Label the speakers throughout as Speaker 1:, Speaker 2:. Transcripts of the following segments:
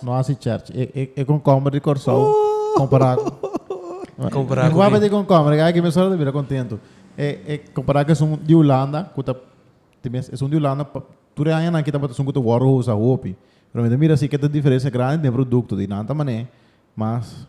Speaker 1: No hace church.
Speaker 2: E concombre di Corsou compará cu...
Speaker 1: Compará cu... Guapa di concombre,
Speaker 2: que aquí me solo te mira contento. E compará que son di Holanda, cu ta... E son di Holanda, tur e aña nan kita bota son cu ta worhouse a hopi. Pero mi ta mira si que ta diferencia grandi den producto, di nan ta mané mas...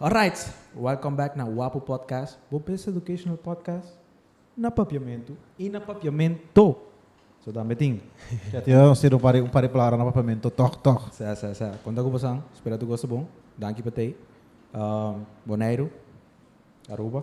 Speaker 3: Alright! Welcome back na Wapu Podcast, bo best educational podcast na Papiamentu i na Papiamento! So tambe tin ke ati nos tin un
Speaker 2: par di palabra na Papiamento tòg tòg. Sè, sè, sè. Konta
Speaker 3: ku bosan. Spera tu gosta bon. Danki pa t'ei. Boneiru, Aruba.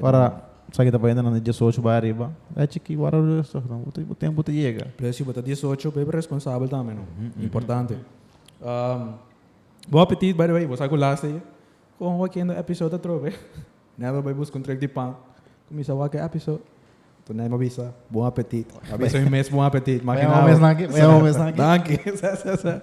Speaker 2: Ora esaki ta payanan di diesocho bai ariba, echi ki wara rustig no, bo tempu ta yega. Pero si bo ta diesocho
Speaker 3: bo bai responsabel tambe no, importante. Bo apetit by the way, bo sa ku las ta ye? Kon wak kendo episode atrobe? Nel a bai buska un trek di pan, kumisa wak e episode. Nto Naima bisa, bon apetit. A bisa mi mes bon apetit, maginabo.
Speaker 2: Danki, sesa,
Speaker 3: sesa.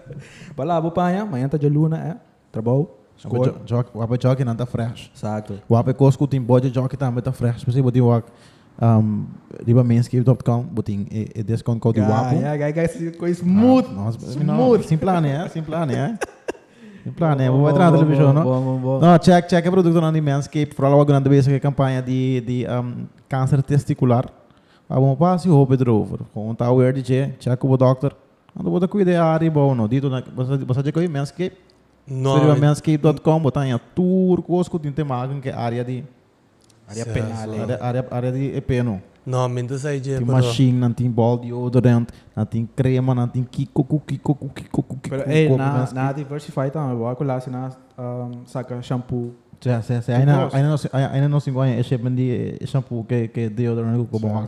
Speaker 3: Bala bo paña, mañan ta djaluna eh. Trabou, skol. Wape
Speaker 2: jockeynan ta fresh. Exacto. Wape cos
Speaker 3: cu tin
Speaker 2: budget jockey tambe ta fresh. Por si bo tin wak riba manscape.com bo tin e discount code di wapu. Ja, ja, ja, ja, coi
Speaker 3: smooth. No, smooth. Sin plane,
Speaker 2: eh, sin plane, eh. Sin plane, bo bai traha television, no? Bon, bon, bon. No, check, check e productonan di manscape. Vooral awak nan ta bezig e campaña di, di cancer testicular. Abo mo pasa y hopi erover. Con ta aware di dje, check cu bo dokter. Anto bo ta cuida e aria bou no. Dito na, bo sa, bo sa dje coge manscape? No. Scribi a manscape dot com, bo ta haña tur cos cu tin te maha con ke aria di, Area Sa- penal, sa- eh. aria, aria, aria di e pe no. No, mi nta sai dje,
Speaker 1: Tin pero. machine, nan tin
Speaker 2: ball deodorant, nan tin crema, nan tin kico cu kico cu kico cu kico Pero
Speaker 3: cu ey, coge na, na manscape. diversify tambe. Bo a cu la asina um, saca shampoo. Sea, sea, sea, Tu aina, cos. aina
Speaker 2: no, si- aina, aina no singo haña e shipment di e shampoo cu e, cu e deodorant cu, cu bo Sa- haña.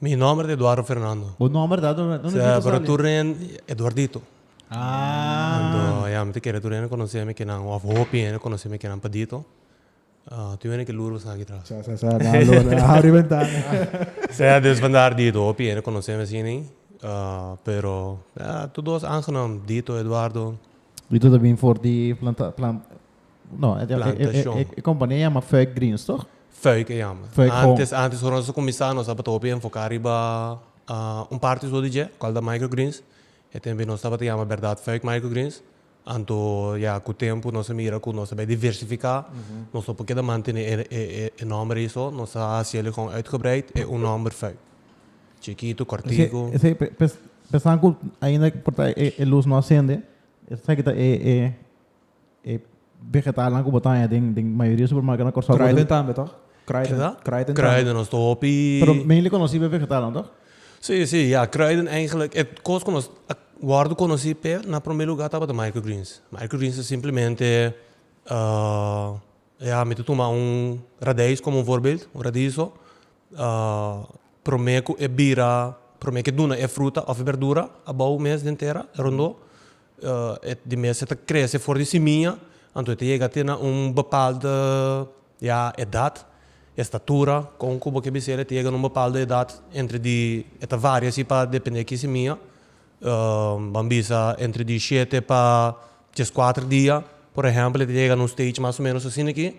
Speaker 2: Mi nomber ta
Speaker 1: Eduardo Fernando. Bo nomber ta Eduardo
Speaker 2: Fernando. Sea, pero tur nen
Speaker 1: Eduardito.
Speaker 2: Ah. Ya, mi ta kere tur
Speaker 1: nen konosé mi kinan, of hopi hende konosé mi kinan pa Dito. Tin wende ke luru bastan aki traha. Sa, sa, sa. Na lo, na habri
Speaker 3: bentana. Sea, dus
Speaker 1: bandar Dito. Hopi hende konosé mi asina ei. Pero, ya, tur dos aangenaam. Dito, Eduardo. Dito ta bin
Speaker 2: for di planta, plant. No, e, Plantacion. e, e, e compañía llama Fuik Greens, toch? Fuik e llama. Fuik
Speaker 1: Home. Antes, antes cuando nos a cuminsa, nos tabata hopi enfoca riba ah, un parte so di dje, cual da microgreens. E tempo nos tabata llama Berdad Fuik Microgreens. Anto ya cu tempo nos a mira cu nos a bay diversifica. Nos no por keda mantene e, e, e, e nomber ey so. Nos a haci el gewoon uitgebreid e un nomber Fuik. Chikito, Esei, cortico. esei, pe- pes- pensando
Speaker 2: cu ainda por ta e, e luz no acende, esaki ta e, e, E vegetalnan ku bo ta haña den den mayoria supermarketnan na Kòrsou. Kruiden tambe tòg?
Speaker 3: Kruiden. Kida? Kruiden tambe.
Speaker 1: Kruiden, nos ta hopi. Pero mainly konosí pa e
Speaker 2: vegetalnan tòg? Sí, sí, ya.
Speaker 1: Kruiden eigentlik e kos ku nos a wòrdu konosí p'e na promé lugá tabata microgreens. Microgreens ta simplemente ya mi ta tuma un radijs komo un voorbeeld, un radiso, promé ku e bira, promé ku e duna e fruta òf e bèrdura abou mes den tera, rondó, E di mes e ta krese for di simiña, anto e ta yega te na un bepalde ya edat, estatura, kon ku bo ke bisel e ta yega na un bepalde edat, entre di e ta varia si pa depende ki simiña, ban bisa entre di shete pa djes kuater dia, por ehèmpel e ta yega na un stage mas o menos asina aki,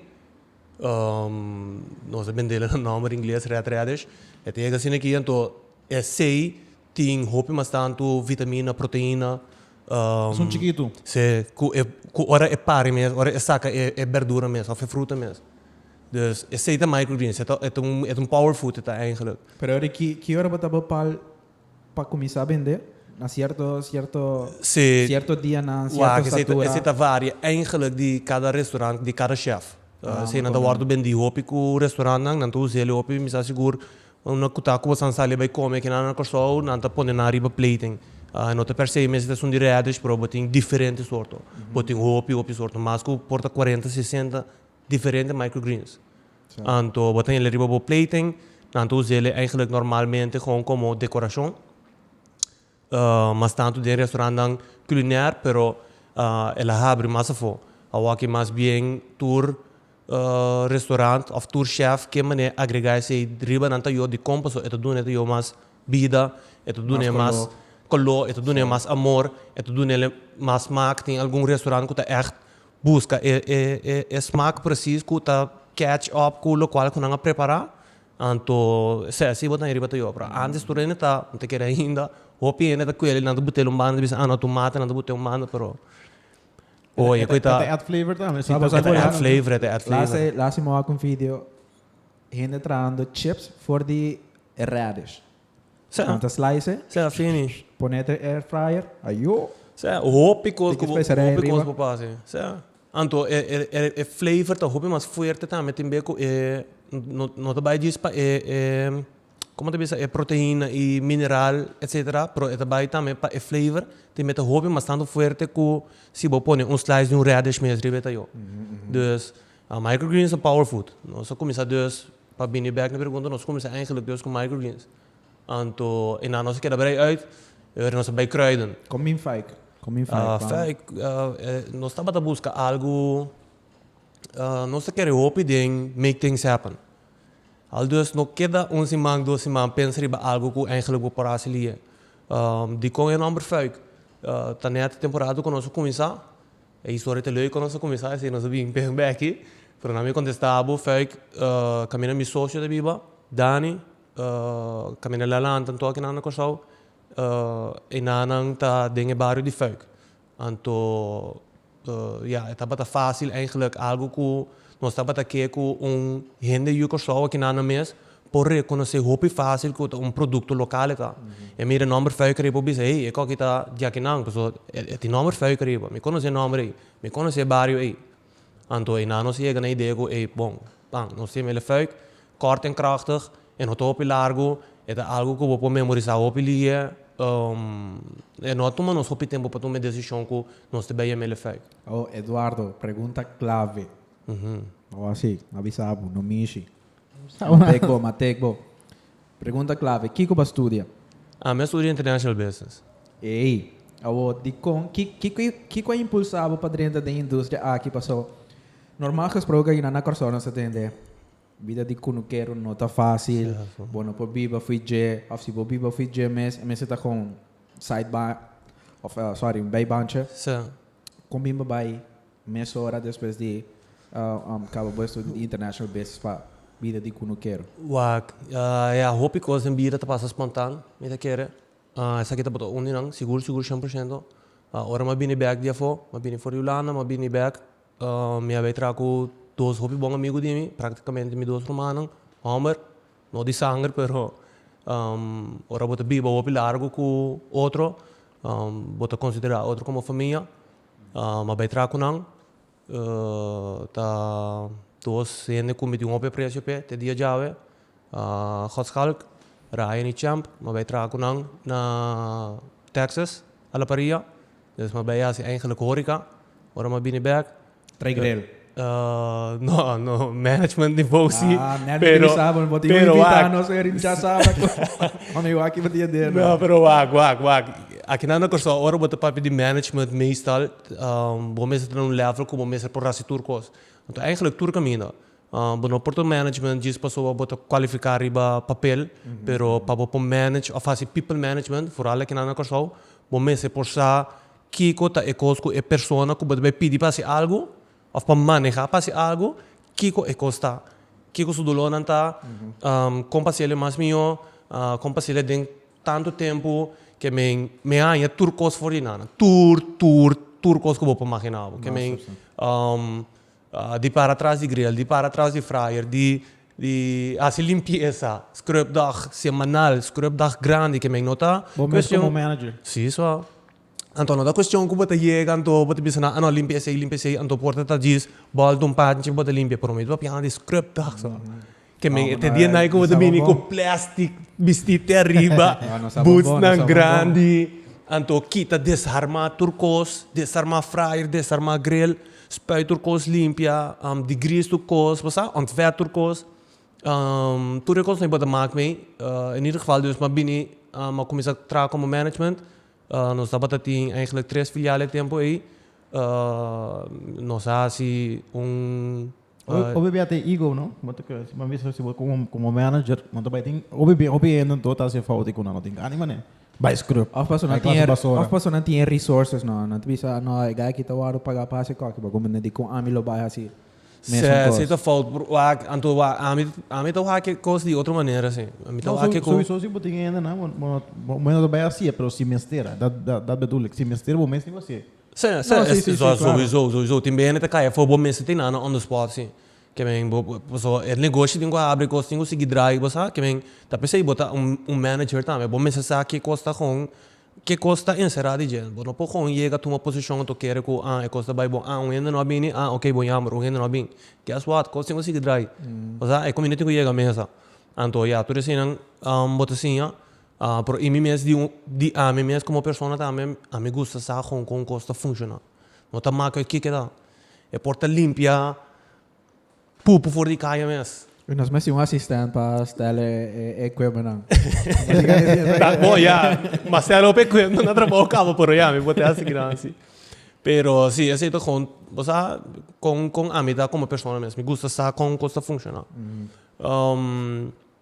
Speaker 1: nos a bendele na nòmber ingles red radish, e ta yega asina aki, anto esei Tin hopi mas tantu vitamina, proteina. Esun
Speaker 2: chikitu. Sí, ku e ku
Speaker 1: ora e pari mes, ora e saka e e berdura mes òf e fruta mes. Dus esei ta microgreens, e ta e ta un e ta un power food e ta eingelik. Pero ora ki ki
Speaker 3: ora bo ta bepal pa kuminsá bendé? Na sierto sierto Sí. sierto dianan, Wak, sierto esei ta statura? esei ta varia
Speaker 1: eingelik di kada restaurant, di kada chef. Ah, Esei nan ta wòrdu bendí hopi ku restaurantnan, nan ta us'é hopi mi sa sigur Una cu ta cu bo san sali bay come aquí na Corsou nan ta pone nan riba platen y no ta persei mester ta esun di radish pero bo tin diferente sorto bo tin hopi hopi sorto mas cu por ta cuarenta sesenta diferente micro greens anto bo ta tenele riba bo platen nan ta usele eigenlic normalmente como decoracion. Mas tantu den restaurantnan culinair pero el a habri mas afo. Awoki mas bien tur restaurant of tur chef ke mane agrega esei riba nan ta yo di kon paso e ta duna e yo mas bida, e ta duna e mas color, e ta duna e mas amor, e ta duna el mas smaak. Tin algun restaurant ku ta echt buska e smaak presis ku ta catch up ku lokual ku nan a prepara Anto esei asi bo ta heriba ta yobra. Antes tur hende ta, no ta kere ainda, hopi hende ta kuel y nan ta but'el un banda ta bisa, ah, no ta un mata, nan ta but'e un banda, pero hoy
Speaker 2: e koe ta. E ta add flavor tambe. Si ta add flavor,
Speaker 1: e ta add flavor. Lasi, lasi mo wak un
Speaker 3: video hende trahando chips for di radish. Kanta slice e pone
Speaker 1: ta air
Speaker 3: fryer ayo. Hopi
Speaker 1: cos cu bo pasa si. Anto e flavor ta hopi mas fuerte tambe tin be cu e no ta bay djis pa e como ta bisa e proteina y mineral etcetera pero e ta bay tambe pa e flavor tin be ta hopi mas tanto fuerte cu si bo pone un slice di un radish mes riba e ta yo. Microgreens ta power food. Nos ta cuminsa dus pa bini back na pregunta nos ta cuminsa eigenlijk dus cu microgreens. Anto e nan nos ta keda brei uit e ora nos ta bay kruiden. Con min fijk?
Speaker 3: Con min fijk pa. Fijk
Speaker 1: nos tabata busca algo nos ta kere hopi den make things happen. Aldus no keda un siman dos siman pensa riba algo cu eigenlijk bo por a haci lie. Dicon e nomber fijk? Ta net temporada cu nos ta cuminsa. E historia ta leu kon nos a kuminsá esei nos a bin p'e beki, pero nan mi a kontestá bo Fuik ta mina mi socio ta biba, Dani ta mina Lalan ta toki nan na Kòrsou e nannan ta den e bario di Fuik anto ya e tabata fásil eigenlik algu ku nos tabata ke ku un hende di Kòrsou a kinan nan mes por rekonosé hopi fásil ku ta un produkto lokal e ta. E mira e nòmber Fuik ariba, e por bisa, Hey, e kòki ta Djakinan, pasobra e tin nòmber Fuik ariba. Mi konosé e nòmber ei. Mi konosé e bario ei. Anto e na nos yega na e idea ku, ey, bon, pan, nos tin mele Fuik, kort en kròchtig, e no ta hopi largu, e ta algu ku bo por memorisá hopi lia, e no a tuma nos hopi tempu pa tuma e desishon ku nos ta bai a mele Fuik. Oh, Eduardo,
Speaker 3: pregunta klave. Bo a si, a bisa bo, no mishi. Matek bo, matek bo. Pregunta clave, kico bo a studia? Ah, mi a studia
Speaker 1: International Business. Ey,
Speaker 3: awor, dicon, kico a impulsa bo pa drenta den industria aki? Paso, normal gesproke ayinan na Corsou nos ta tende, bida di cunukero no ta facil, bo no por biba fui dje, of si bo biba fui dje mes, e mester ta con side ba, of sorry, un bijbaantje. Con bin bo bay? Mes ora despues di kaba bo estudio di International Business pa bida di ku no kere? Wak,
Speaker 1: ya hopi kos den bida ta pasa spontan. Mi ta kere esaki tabata un di nan, sigur sigur shen por shento. Ora mi a bini bek di afó, mi a bini for di Hulanda, mi a bini bek, mi a bai traha ku dos hopi bon amigu di mi, praktikamente mi dos rumannan hòmber, no di sanger pero ora bo ta biba hopi largu ku otro, bo ta konsiderá otro komo famia. M'a bai traha cu nan. Ta dos hende cu mi tin un hopi aprecio p'e te dia djawe. Godschalk, Ryan y Champ. M'a bai traha cu nan na Texas a la paria. M'a bai haci eigenlijk horeca. Ora m'a bini bek.
Speaker 3: No,
Speaker 1: no. Management di Vosi. Ah, management pero, di Saba. Bo
Speaker 3: tin pero wak. Nos er in Saba. Mami waki bo dia der. No, pero wak, wak,
Speaker 1: wak. Akinan na Kòrsou, ora bo ta papia di management, meestal um bo mester ta na un level ku bo mester por hasi tur kos. Anto eigentlik tur kaminda. Um bo no por ta un management djis pasobra bo ta kualifiká riba papel, pero pa bo por manage òf hasi people management, vooral akinan na Kòrsou, bo mester por sa Kiko ta e kos ku e persona ku bo ta bai pidi pa hasi algu òf pa manehá pa hasi algu, kiko e kos ta? Kiko su dolónan ta? Kon pa hasiel mas mihó? Kon pa hasiel den tantu tempu ke men mi a haña tur kos for di nan? Tur, tur, tur kos ku bo por imaginá bo. Ke men Di para tras di grill, di para tras di fryer, di di hasi limpiesa, scrubdag semanal, scrubdag grandi ke men no ta cuestion. Bo mes komo manager.
Speaker 2: Sí so.
Speaker 1: Anto no ta cuestion ku bo ta yega anto bo ta bisa nan ano limpia esei limpia esei anto por ta ta djis bòl dun panchi bo ta limpia pero mi ta papia nan di scrubdag so. Ke men e te dia nai ku bo ta bini ku plèstik, bisti te ariba, butsnan grandi, anto kita desarmá tur kos, desarmá fraier, desarmá gril, spui tur kos limpia, digris tur kos, bo sa, òntwèrp tur kos, tur e kosnan ku bo ta mak mi, in ieder geval dus m'a bini, m'a kuminsá traha komo management, nos tabata tin tres filial e tempu ei, nos a hasi un
Speaker 2: Hopi bia ta e ego no, bo ta kere si bo a bisa si bo komo manager, bo ta bai tin hopi bia hopi hende anto ta hasi e fout ei ku nan no tin ka anima ne, bai scrub, bai klasa basura.
Speaker 3: Of paso nan tin e resources no, nan ta bisa no e guy aki ta wòrdu pagá pa hasi kòke, bo gumbe nan dikon ami lo bai hasi mesun kos. Si ta
Speaker 1: fout por wak, anto wak ami ami ta wak e kos di otro manera si, ami ta wak e kos. Souso si bo tin e hendenan
Speaker 2: bo no bo no ta bai hasi'e pero si mester, dat bedoel ek, si mester bo mes tin hasi'e. Sè, sè, No, si, si,
Speaker 1: si, claro. Sowieso, sowieso, tin behende ta kaya for bo mester tin nan on the spot si, ke men bo paso e negoshi tin ku a abri kos tin ku sigui drai bo sa ke men ta p'esei bo ta un manager tambe bo mester sa ke kos ta gon ke kos ta enserá di dje bo no por gon yega tuma posishon ato kere ku a e kos ta bai bon a un hende no a bini a oke bo yamber un hende no a bin guess what kos tin ku sigui drai paso a e kominda tin ku yega mesa anto ya tur eseinan bo ta siña Pero y mi mes di un di ami mes como persona tambe ami gusta sa con con cos ta funciona no ta macu e kiko ta e por ta limpia pupu for di caya mes. Oye nos mester un asistent
Speaker 3: pa stel e equipment nan.
Speaker 1: Bo ya mas stel hopi equipment na trabao cabo pero ya mi por te haci gran si. Pero si esey ta con bo sa con con ami ta como persona mes mi gusta sa con cos ta funciona.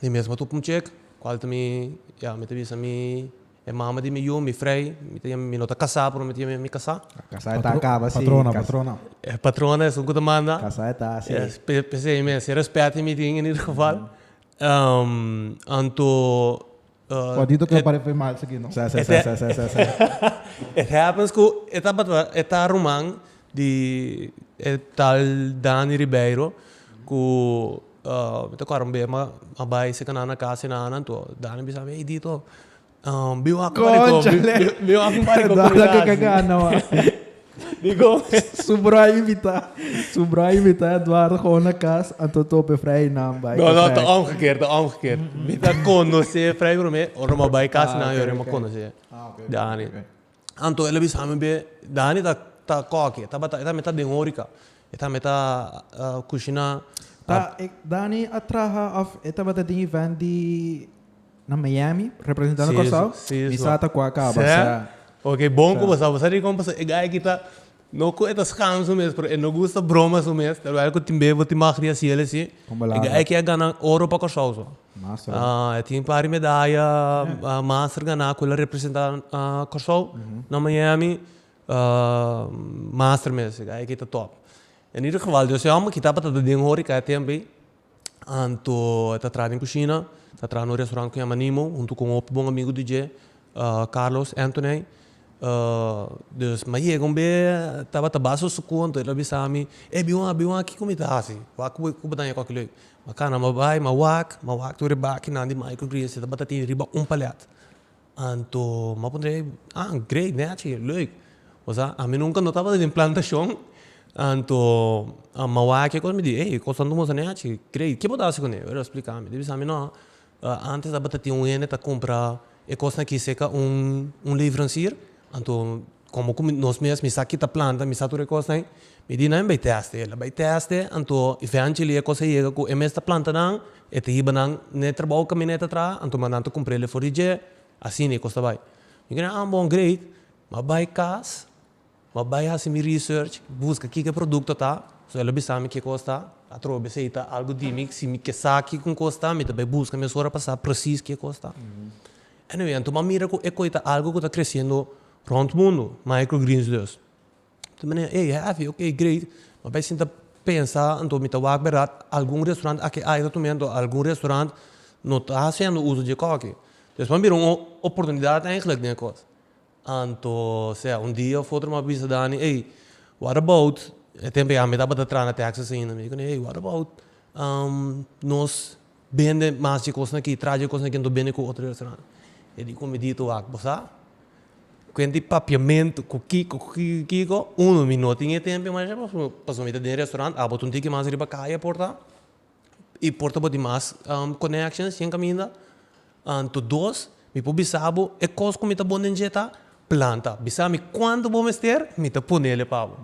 Speaker 1: Mi mes a tupa un chek cual ta mi ya mi ta bisa mi e mama di mi yu mi frei mi ta mi no ta casa pero mi ta yami mi casa. Casa e ta acaba si.
Speaker 3: Patrona patrona. E
Speaker 2: patrona
Speaker 1: esun cu ta manda. Casa e ta
Speaker 3: si. P'esei mes si e
Speaker 1: respet mi tin en ieder geval anto Cuadito ke
Speaker 2: pare fe mal seki no. Sa sa sa sa sa
Speaker 1: sa. It happens ku e tabata e ta ruman di e tal Dani Ribeiro ku mi ta kòrda un bes a bai seki nan na kas e nan anto Dani a bisa mi ey Dito bin wak un pariko bin wak un pariko ku mi na hasi.
Speaker 3: Di
Speaker 1: Gomez. Su broer a
Speaker 3: invita, su broer a invita Eduardo Gomez na cas, anto tope Fray Hernan bai No, no, ta omgekeerd,
Speaker 1: ta omgekeerd. Mi ta conoce Fray Brome, ora mi bai cas nan yora mi conoce Dani. Anto el a bisa mi be, Dani ta, ta coke, e tabata, e ta meta den horeca, e ta meta cushina. Ta,
Speaker 3: Dani a traha of e tabata den event di Na Miami, representando Kòrsou, mi sa ta ku a kaba sa. Oke, bon ku
Speaker 1: bo sa. Bo sa di kon pasó? E gai aki ta, no ku e ta skan su mes, pero e no gusta broma su mes. Tal bai ku tin b'e bo tin mag di hasiel esí. E gai aki a gana oro pa Kòrsou so. E
Speaker 3: tin un par di
Speaker 1: medaya master ganá ku el a representá Kòrsou na Miami. Master mes, e gai aki ta tòp. Anida geval Dios e hòmber kita pa ta den hurikea tempu ei. Anto e ta traha den kushina, e ta traha na un restaurant ku yama Nimo huntu ku un hopi bon amigu di dje, Carlos Anthony. Dus mi a yega un bes, e tabata basta suku, anto el a bisa mi, ey bin wak, bin wak kiko mi ta hasi, wak ku bo ta haña koke loke. Mi a kana, mi a bai, mi a wak, mi a wak tur e baki nan di Michael Greens, e tabata tin riba un palèt. Anto m'a puntra ei, ah great naci, leuk. Pasobra ami nunca no tabata den plantacion, anto m'a wak e cos mi di ei e cos anto moza naci, great, ke bo ta haci cun'e? Aver a splica mi, mi di bisa no, antes tabata tin un hende ta cumpra e cosnan aki cerca un leverancier, anto Komo ku nos mes mi sa ki ta planta, mi sa tur e kosnan, mi di nan bai tèste el. Bai tèste, anto e fènchi li e kos a yega ku e mes ta planta nan, e ta hiba nan n'e trabou kaminèt atrás, anto mandan ta kumpr'el e for di dje, asina e kos ta bai. Mi keda, ah bon, great. M'a bai kas, m'a bai hasi mi research, buska kiko e produkto ta, so el a bisa mi ki kos ta, atrobe esei ta algu di mi, si mi ke sa kiko kos ta, mi ta bai buska mesora pa sa presis ki kos ta. Anyway, anto m'a mira cu ecoy ta algo cu ta creciendo rond mundo, microgreens dus. Tin manera, ey, heavy, ok, great. M'a bay sinta pensa, anto mi ta wak berdad, algun restaurant aki ay ta tum'e, anto algun restaurant no ta haciendo uso dje coke. Despues m'a mira un oportunidad eigenlijk den e cos. Anto sea, un dia of otro mi a bisa Dani, ey, what about, e tempo ya mi tabata tra na Texas ainda, mi kuné, ey, what about nos bende mas dje kosnan aki, tra dje kosnan aki anto bende ku otro restaurante. E di ku mi dito wak, bo sa, kuent di papiamento, ku kiko, ku kiko, ku kiko, uno, mi no tin e tempo mas, pasobra mi ta den restaurante, abo ta un tiki mas riba kaya a porta. i por ta bo di mas connections den caminda anto dos mi por bisa bo e cos cu mi ta bon den dje ta planta bisa mi cuanto bo mester mi ta ponele pa bo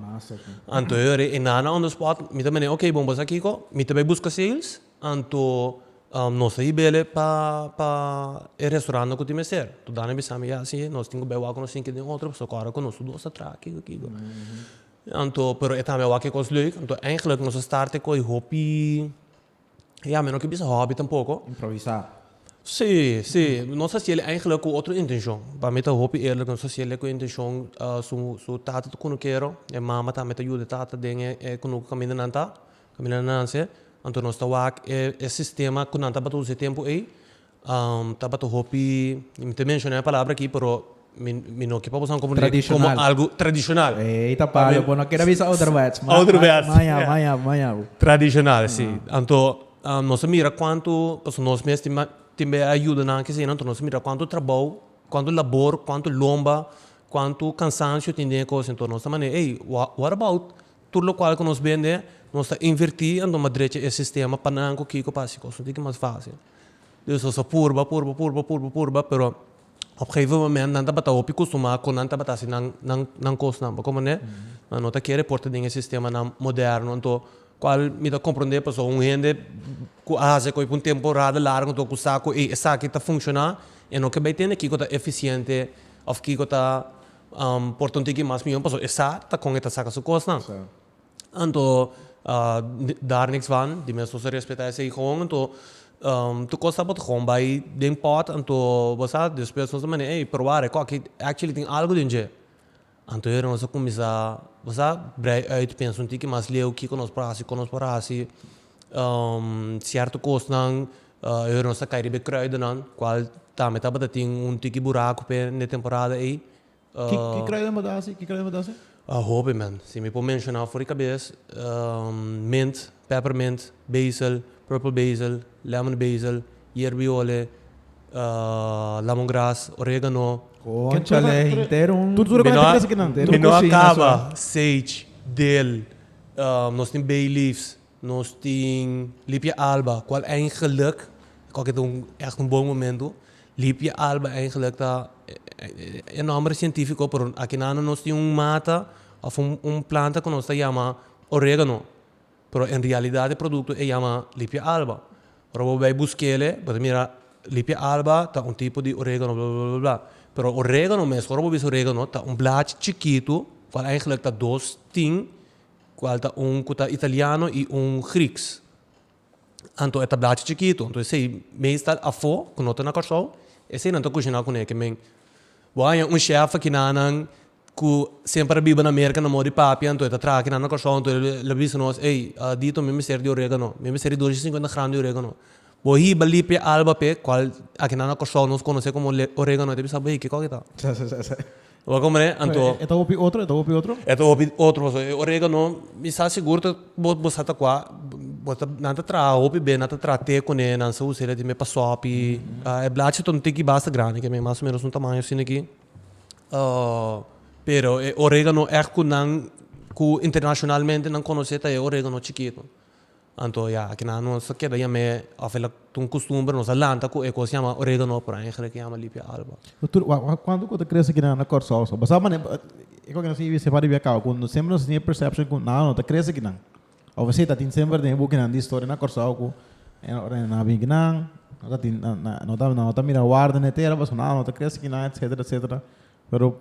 Speaker 1: anto e ora e nana on the spot mi ta mende ok bo basa kico mi ta bay busca sales anto nos ta hibele pa pa e restaurant cu tin mester totdan a bisa mi ya nos tin cu bay wak nos tin ke den otro soco ora cu nos dos ta traha kico kico. Anto pero e tambe a wak e kos leuk, anto eigenlijk nos a start te koe hopi, ya mi no ke bisa hobby tampoko. Improvisá.
Speaker 3: Sí,
Speaker 1: sí, nos hasiel eigenlijk ku otro intenshon, pa mi ta hopi eerlik nos hasiel e ku e intenshon su su tata ta kunukero, e mama tambe ta yuda e tata den e kunuku kaminda nan ta, kaminda nan nase, anto nos ta wak e sistema ku nan tabata usa e tempu ei, Tabata hopi, mi ta menshona e palabra aki pero mi no kipa boso como tradicional, como algo algo tradicional. Ey ta palo, bo no
Speaker 3: quiere bisa ouderwets. Ouderwets. Maya, maya, maya, maya. Tradicional
Speaker 1: si. Anto nos ta mira cuanto, pasobra nos mes tin tin be ayuda nan aki asina, anto nos ta mira cuanto trabou, cuanto labor, cuanto lomba, cuanto cansancio tin den e cosa, anto nos ta manda ey what about. Tur lokual ku nos bende, nos ta invertí anto mas drecha e sistema pa nan ku kiko pa hasi kos un tiki mas fásil. Dus nos a purba, purba, purba, purba, purba, pero op geife moment nan tabata hopi kustumá ku nan tabata hasi nan nan nan kosnan. Bo komprenné? Nan no ta kere por ta den e sistemanan moderno. Anto kual mi ta komprondé pasobra un hende ku a hasi ko'i pa un temporada largu anto ku sa ku ei esaki ta funshoná, e no ke bai tende kiko ta efisiente òf kiko ta Por ta un tiki mas miyon pasobra e sa ta kon e ta saka su kosnan. Anto Darnix Van di Mesbos a respetá esei hon anto tur kos ta botá hon bai den pòt anto bo sa despues nos ta manda ey probá rekòk ki actually tin algu den dje anto aver nos a kuminsá bo sa brei uit pensa un tiki mas leu kiko nos por hasi kon nos por hasi Cierto cosnan aver nos a cay riba e kruidennan cual tambe tabata tin un tiki buraco p'e den e temporada ey. Ki kruiden
Speaker 2: bo ta haci? Ki kruiden bo ta haci? A hopi
Speaker 1: man. Si mi por menciona for di cabes, mint, peppermint, basil, purple basil, lemon basil, yerbiole, lemongrass, oregano, Conchale,
Speaker 3: henter un. Tur tur lo cu hay ta crece
Speaker 2: kinan. mi no a caba,
Speaker 1: sage, dill, Nos tin Bayleaves, nos tin Lipia Alba, cual eigenlijk, cu aki ta un echt un bon momento, Lipia Alba eigenlijk ta e nomber cientifico, pero aki nan nos tin un mata of un planta cu nos ta yama Oregano, pero en realidad e producto e yama Lipia Alba. Ora bo bai buskele bo ta mira lipia alba ta un tipo di oregano bla bla bla pero oregano mes ora bo bisa oregano ta un blachi chikitu cual eigenlik ta dos tin cual ta un cu ta italiano y un grieks anto e ta blachi chikitu anto esey meestal afo cu no ta na Curaçao esey nan ta cushina cune kimen. Bo a haña un chef aki nanan cu semper a biba na America na mor di papia, anto e ta traha aki nanan na Kòrsou, anto e lo bisa nos, Ey, Dito, mi mester di oregano, mi mester di dos y cincuenta gram di oregano. Bo hiba lipi e alba p'e, cual aki nanan na Kòrsou nos conoce como oregano, e ta bisa bo, Ey, kico aki ta? Bo a comprende? Anto. E ta hopi otro? E ta hopi
Speaker 2: otro? E ta hopi otro, pasobra e
Speaker 1: oregano mi sa sigur ta Bo bo sa ta kua bo ta nan ta traha hopi bes nan ta traha te kune nan sa usa el ati me pa sopi e blachi ta un tiki basta grandi ke me mas o menos un tamaño asina aki pero e oregano ègt ku nan ku internashonalmente nan konosé ta e oregano chikito anto ya aki nan no sa keda yam'e òf e la Ta un costumber nos a lanta cu e cos yama oregano por ahí gele cu yama lipia alba. Doctor, wak cuanto cu ta
Speaker 2: crece aquí nan na Corsou so basado manera e cos cu nos hibi sepa riba e caba cu semper nos a teni e perception cu nada no ta crece aquí nan of esey ta tin semper den e book nan di historia na Corsou cu ora nan a bin aquí nan no ta tin no ta mira warda na e tera pasobra nada no ta crece aquí nan etcetera etcetera. Pero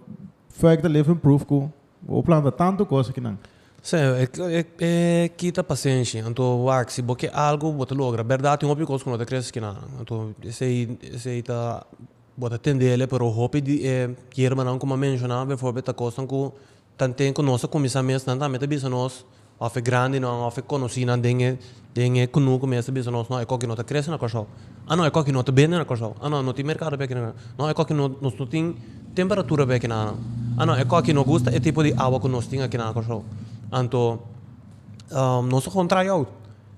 Speaker 2: Fuik ta living proof ku bo planta tantu kos aki nan. Sí,
Speaker 1: e kita pasenshi. Anto wak, si bo ke algu bo ta logra. Berdad tin hopi kos ku no ta kres kinan. Anto esei esei ta bo ta tende ele pero hopi di e yerbanan ku mi a menshoná beforbelt ta kosnan ku Tanten ku nos a kuminsá mes, nan tambe ta bisa nos, òf e grandinan, òf e konosinan den e den e kunu ku mes ta bisa nos, no, e koki no ta krese na Kòrsou. A no, e koki no ta bende na Kòrsou. A no, no tin merkado p'e akinan. No, e koki no nos no tin temperatura p'e akinanan. A no, e koki no gusta e tipo di awa ku nos tin akinan na Kòrsou. Anto, nos ta kon try out.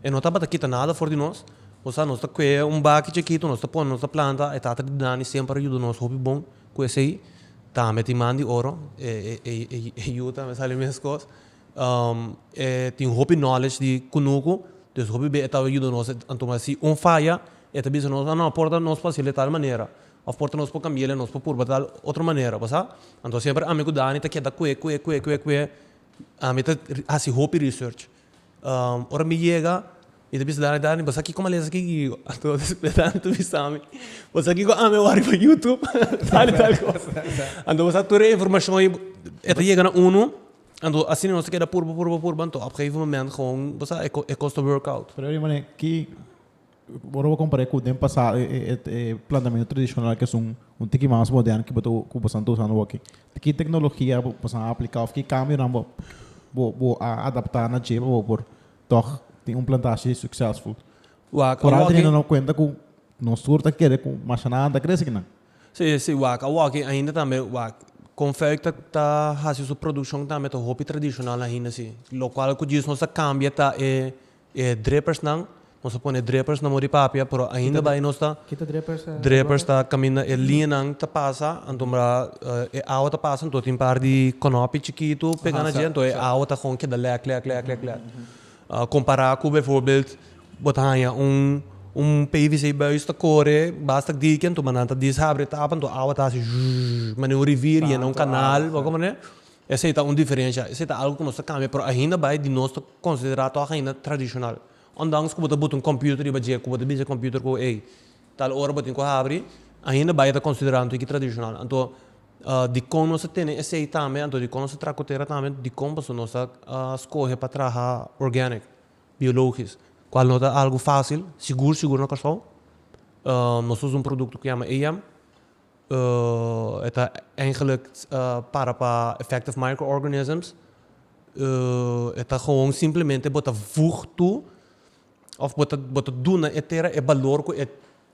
Speaker 1: E no tabata kita nada for di nos. Bo sa, nos ta kue un baki chikitu, nos ta pone, nos ta planta. E tata di Dani semper a yuda nos hopi bon. Ku esei tambe tin man di oro, e yu tambe sali meskos. E tin hopi knowledge di kunuku, dus hopi be e tabata yuda nos, e ta tuma si un faya, e ta bisa nos, no, por ta nos por haciel de tal manera, òf por ta nos por kambiel e nos por purba tal otro manera, bo sa? Anto semper ami ku Dani ta keda kue, kue, kue, kue, kue, ami ta hasi hopi research. Ora mi yega, mi ta bisa Dani, Dani, bo sa kiko malesa aki? I anto di esplika Dani ta bisami, bo sa kiko? Ami a wak riba yutub, tal i tal kosa. Anto bo sa tur e informashon ei, e ta yega na unu, anto asina nos ta keda purba, purba, purba, anto ap gegeven momento, bo sa e kos ta workout. Pero ora mi manera, ki.
Speaker 2: Ora bo compar'é cu den pasá e plantamentu tradicional qu'es un tiki mas moderno cu bo bo san ta usando awor, ki tecnologia bo bo san a aplica of ki cambionan bo bo bo a adapta na dje pa bo por tog tin un plantashi succesful. Wak a wak e. cuenta cu nos tur ta kere cu mashanan a ta crece kinan. Si si wak
Speaker 1: a wak e ainda tambe wak con Vuik ta ta haci su produccion tambe ta hopi tradicional ainda si, locual cu djis nos ta cambia ta e E drippers nan, nos a pone e drippers na mori papia pero ainda bai nos ta, drippers ta caminda e liña nan ta pasa anto mira e awa ta pasa anto tin par di conopi chikitu pega na dje anto e awa ta gewoon keda lek lek lek lek lek compara cu bijvoorbeeld bo ta hanja un pvc buis ta core basta cu diki anto mira nan ta dis habri e tapa anto e awa ta haci zzzhhh manera un rivier yena un canal bo comprende esey ta un diferencia esey ta algo cu nos ta cambia pero ainda bai di nos ta considera toa haina tradicional. Ondanks cu bo ta buta un computer riba dje cu bo ta bisa computer cu ey tal ora bo tin cu habri, ainda bay a ta considera anto yki tradicional. Anto dicon nos ta tene esey tambe, anto dicon nos ta traha cu tera tambe, dicon pasobra nos ta scoge pa traha organic, biologisch, cual no ta algo facil, sigur sigur na Kòrsou. Nos ta usa un producto cu yama AIM, E ta eindelijk para pa effective microorganisms. E ta gewoon simplemente bo ta voeg toe of bo ta bo ta duna e tera e balor ku e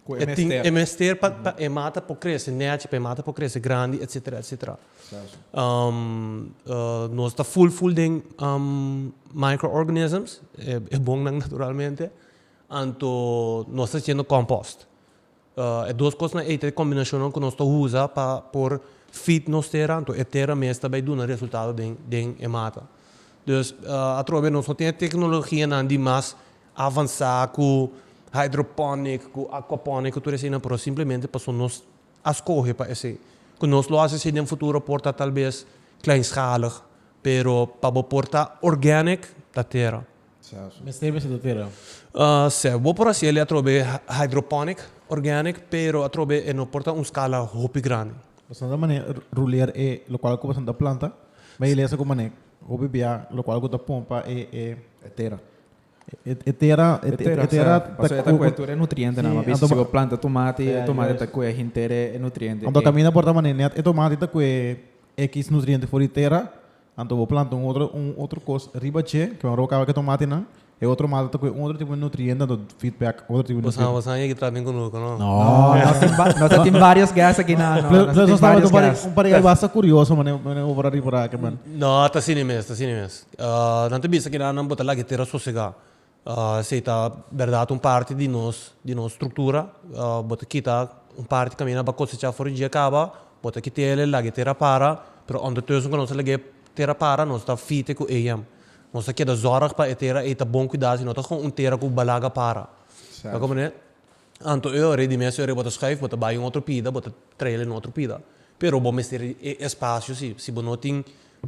Speaker 1: Ku e tin mester. e mester pa pa e mata por krese nèchi, pa e mata por krese grandi etsetera etsetera. Nos ta full full den microorganisms e bonnan naturalmente anto nos ta haciendo compost. E dos kosnan ei ta e kombinashonnan ku nos ta usa pa por feed nos tera, anto e tera mes ta bai duna resultado den den e mata. Dus atrobe bira nos no tin e teknologianan di mas avansá ku hydroponic, ku aquaponic, ku tur eseinan, pero simplemente pasobra nos a skohe pa esei. Ku nos lo hasi asei den futuro por ta talbes kleinschalig, pero pa bo por ta organic ta tera. Mester bisa
Speaker 2: tu tera? Sè, bo
Speaker 1: por hasi el atrobe hydroponic organic pero atrobe e no por ta un skala hopi grandi. Boso no ta manera
Speaker 2: ruleer e lokual ku boso ta planta, mi a lesa ku manera hopi bia lokual ku ta pompa e tera. E tera, e tera ta ku. Paso
Speaker 3: e ta ku'e tur e nutriente na, mi a bisa si bo planta tomati, e tomati ta ku'e henter e nutriente. Anto kaminda por ta manera
Speaker 2: net e tomati ta ku'e X nutriente for di tera Anto bo planta un otro un otro kos riba dje ke bo a roka awor ke tomati nan e otro mata ta ku e otro tipo di nutriente anto feed back otro tipo di nutriente. Bosa bosa yeki traha bin ku
Speaker 1: noe ku no. No no tin ba no
Speaker 3: ta tin varios guest aki no no no ta tin varios guest.
Speaker 2: Un pareha basta kurioso mane mane obra riba aki man. No ta sini mes ta
Speaker 1: sini mes nan ta bisa kinan bo ta lag'e tera sosega Si ta berdad un parti di nos di nos struktura, bo ta kita un parti kaminda nan ba kosechá for di djia kaba, bo ta kité el, el laga e tera para, pero ondertussen ku nos a laga e tera para nos ta fite ku eyem, nos ta keda zòrg pa e tera ei ta bon kuidá si no ta gon un tera ku ba laga para. Ta kòm manera anto e ora di mes e ora bo ta skùif bo ta bai un otro pida bo ta trael e na otro pida, pero bo mester e espasio si si bo no tin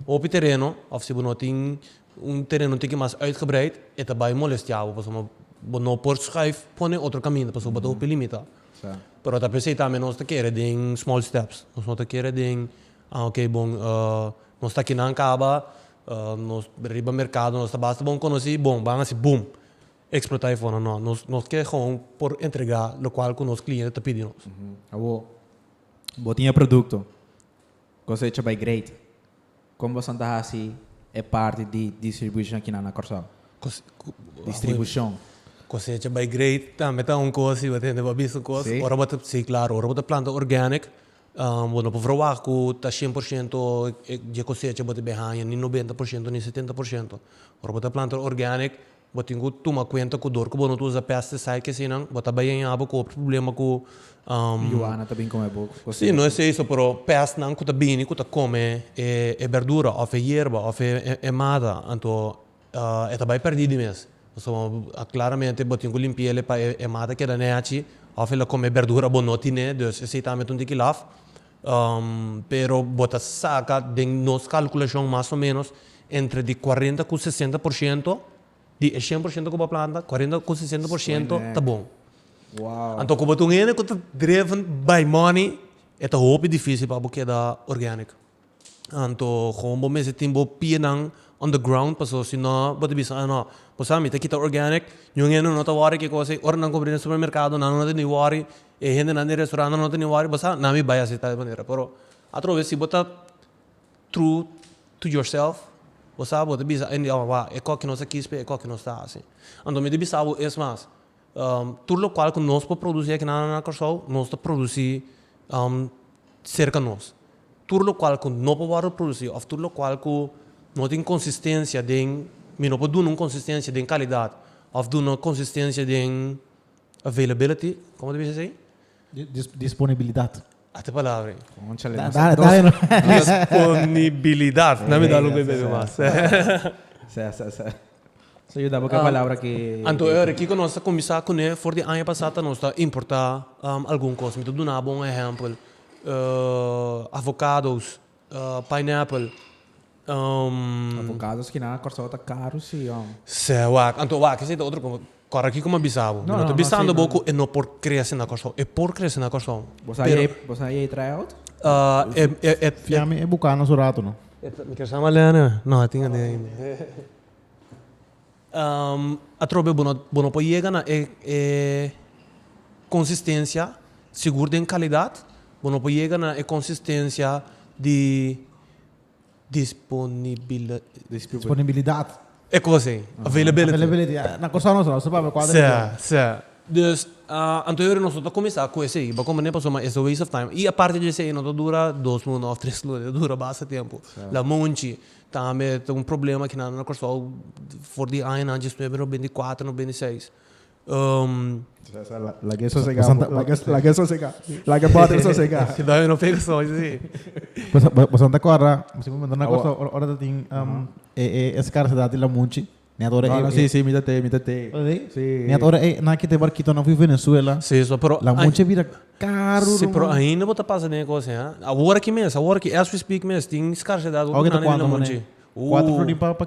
Speaker 1: hopi tereno òf si bo no tin Un tereno tiki mas uitgebreid e ta bai molestia bo pasobra bo no por schuif pone otro kaminda pasobra bo ta hopi limita. Pero ta
Speaker 3: p'esei tambe
Speaker 1: nos ta kere den small steps, nos no ta kere den ah ok bon nos ta kinan kaba nos riba merkado nos ta basta bon konosi bon ban hasi boom explota afuer no no nos nos ke gewoon por entrega lokual ku nos kliente ta pidi nos. Awor
Speaker 3: bo tin e produkto kosecha bai greid. Kon boso ta hasi e parti di distribushon kinan na Kòrsou? Distribushon. Kosecha
Speaker 1: bai great tambe ta un kos i bo tende bo a bisa kos. Ora bo ta, si klaro,
Speaker 3: ora bo
Speaker 1: ta planta organic, bo no por verwagt ku ta shen por shento dje kosecha bo ta bin haña, ni nobenta por shento ni setenta por shento. Ora bo ta planta organic Bo tin ku tuma kuenta ku dor ku bo no ta usa pesticide ke asinan bo ta bai yaña bo ku otro problema ku Yuana
Speaker 3: ta bin kome bo kos si no esei so pero
Speaker 1: pes nan ku ta bini ku ta kome e berdura of e yerba of e mata anto e ta bai perdi di mes pasobra claramente bo tin ku limpi ele pa e mata keda nechi of e la kome e berdura bo no tine dus esei tambe ta un tikilaf Pero bo ta saka den nos kalkulashon mas o menos entre di kuarenta ku sesenta por shento di e shen por shento ku bo a planta, kuarenta ku sesenta por shento ta bon. Anto
Speaker 3: ku bo ta un hende ku
Speaker 1: ta driven bai moni e ta hopi difisil pa bo keda organic. Anto gewoon bo mester tin bo pienan on the ground paso si no bo ta bisa no bo sa mi ta kita organic niun hende no ta wori kikosa ora nan compra den supermercado nan no ta ni wori E hendenan di e restaurantnan no ta ni wòri, bo sa nan mi bai así tal manera. Pero atrobe si bo ta true to yourself, bo sa bo ta bisa hende di, oh, wak, e kòkio nos a kispe, e kòkio nos ta hasi. Anto mi ta bisa bo es mas, tur lokual ku nos por produsí aki na Kòrsou, nos ta produsí serka nos. Tur lokual ku no por wòrdu produsí òf tur lokual ku no tin konsistensia den, mi no por duna un konsistensia den kalidat òf duna konsistensia den Availability, como ta bisa esei?
Speaker 2: Disponibilidad. Ate
Speaker 1: palabra ei. Conchale. Da, da,
Speaker 3: da de nuevo.
Speaker 2: Disponibilidad.
Speaker 1: Nan mi dal un bes bebe mas. Sa, sa,
Speaker 3: sa. Sa yuda bo cu e palabra ki. Anto Eury, kico nos ta
Speaker 1: cuminsa cune for di aña pasa ta nos ta importa algun cos? Mi ta duna bo un ehempel. Avocados. Pineapple. Avocado
Speaker 3: skinada na Corsou ta caro si jom. Seh wak, anto wak
Speaker 1: esei ta otro cosa. Corre aki cu mi a bisa bo. Mi no ta bisando bo cu e no por crece na Corsou. E por crece na Corsou. Bo sa ei, bo sa
Speaker 3: ei try out?
Speaker 2: Fiami e buca nos un rato no. Mi kier sa malea
Speaker 1: ne. No, a tin a den ainda. Atrobe bo bo no por yega na e e konsistensia sigur den kalidat, bo no por yega na e konsistensia di disponibilidad,
Speaker 2: Disponibilidad. e kos
Speaker 1: ei, availability, Availability, ya, na Kòrsou nos lo saba
Speaker 2: kua ta di dia. Sa, sa.
Speaker 1: Dus, anto yori nos no ta kuminsá ku esei, pa kònde? Pasobra ma es a waste of time. I aparte di esei no ta dura dos luna òf tres luna, ta dura basta tempu, lamonchi. Tambe ta un problema aki nan na Kòrsou for di aña nan djisnuebe no bende kuater no bende seis.
Speaker 3: Laga e sosegá un poko. Laga e sosegá. Laga e bòter sosegá. Si no e no
Speaker 1: pega sòn si si. Boso
Speaker 2: no ta kòrda, boso siempre manda nan na Kòrsou ora ta tin e skarsedat di lamunchi? Net ora ey si si mi ta tei mi
Speaker 3: ta tei
Speaker 2: net ora ey nan kite barkito nan hui Venezuela la mucha
Speaker 1: bira
Speaker 2: karu si pero ainda bo
Speaker 1: ta pasa den e kos ey awor aki mes awor aki as we speak mes tin skarsedad wak nan den la monchi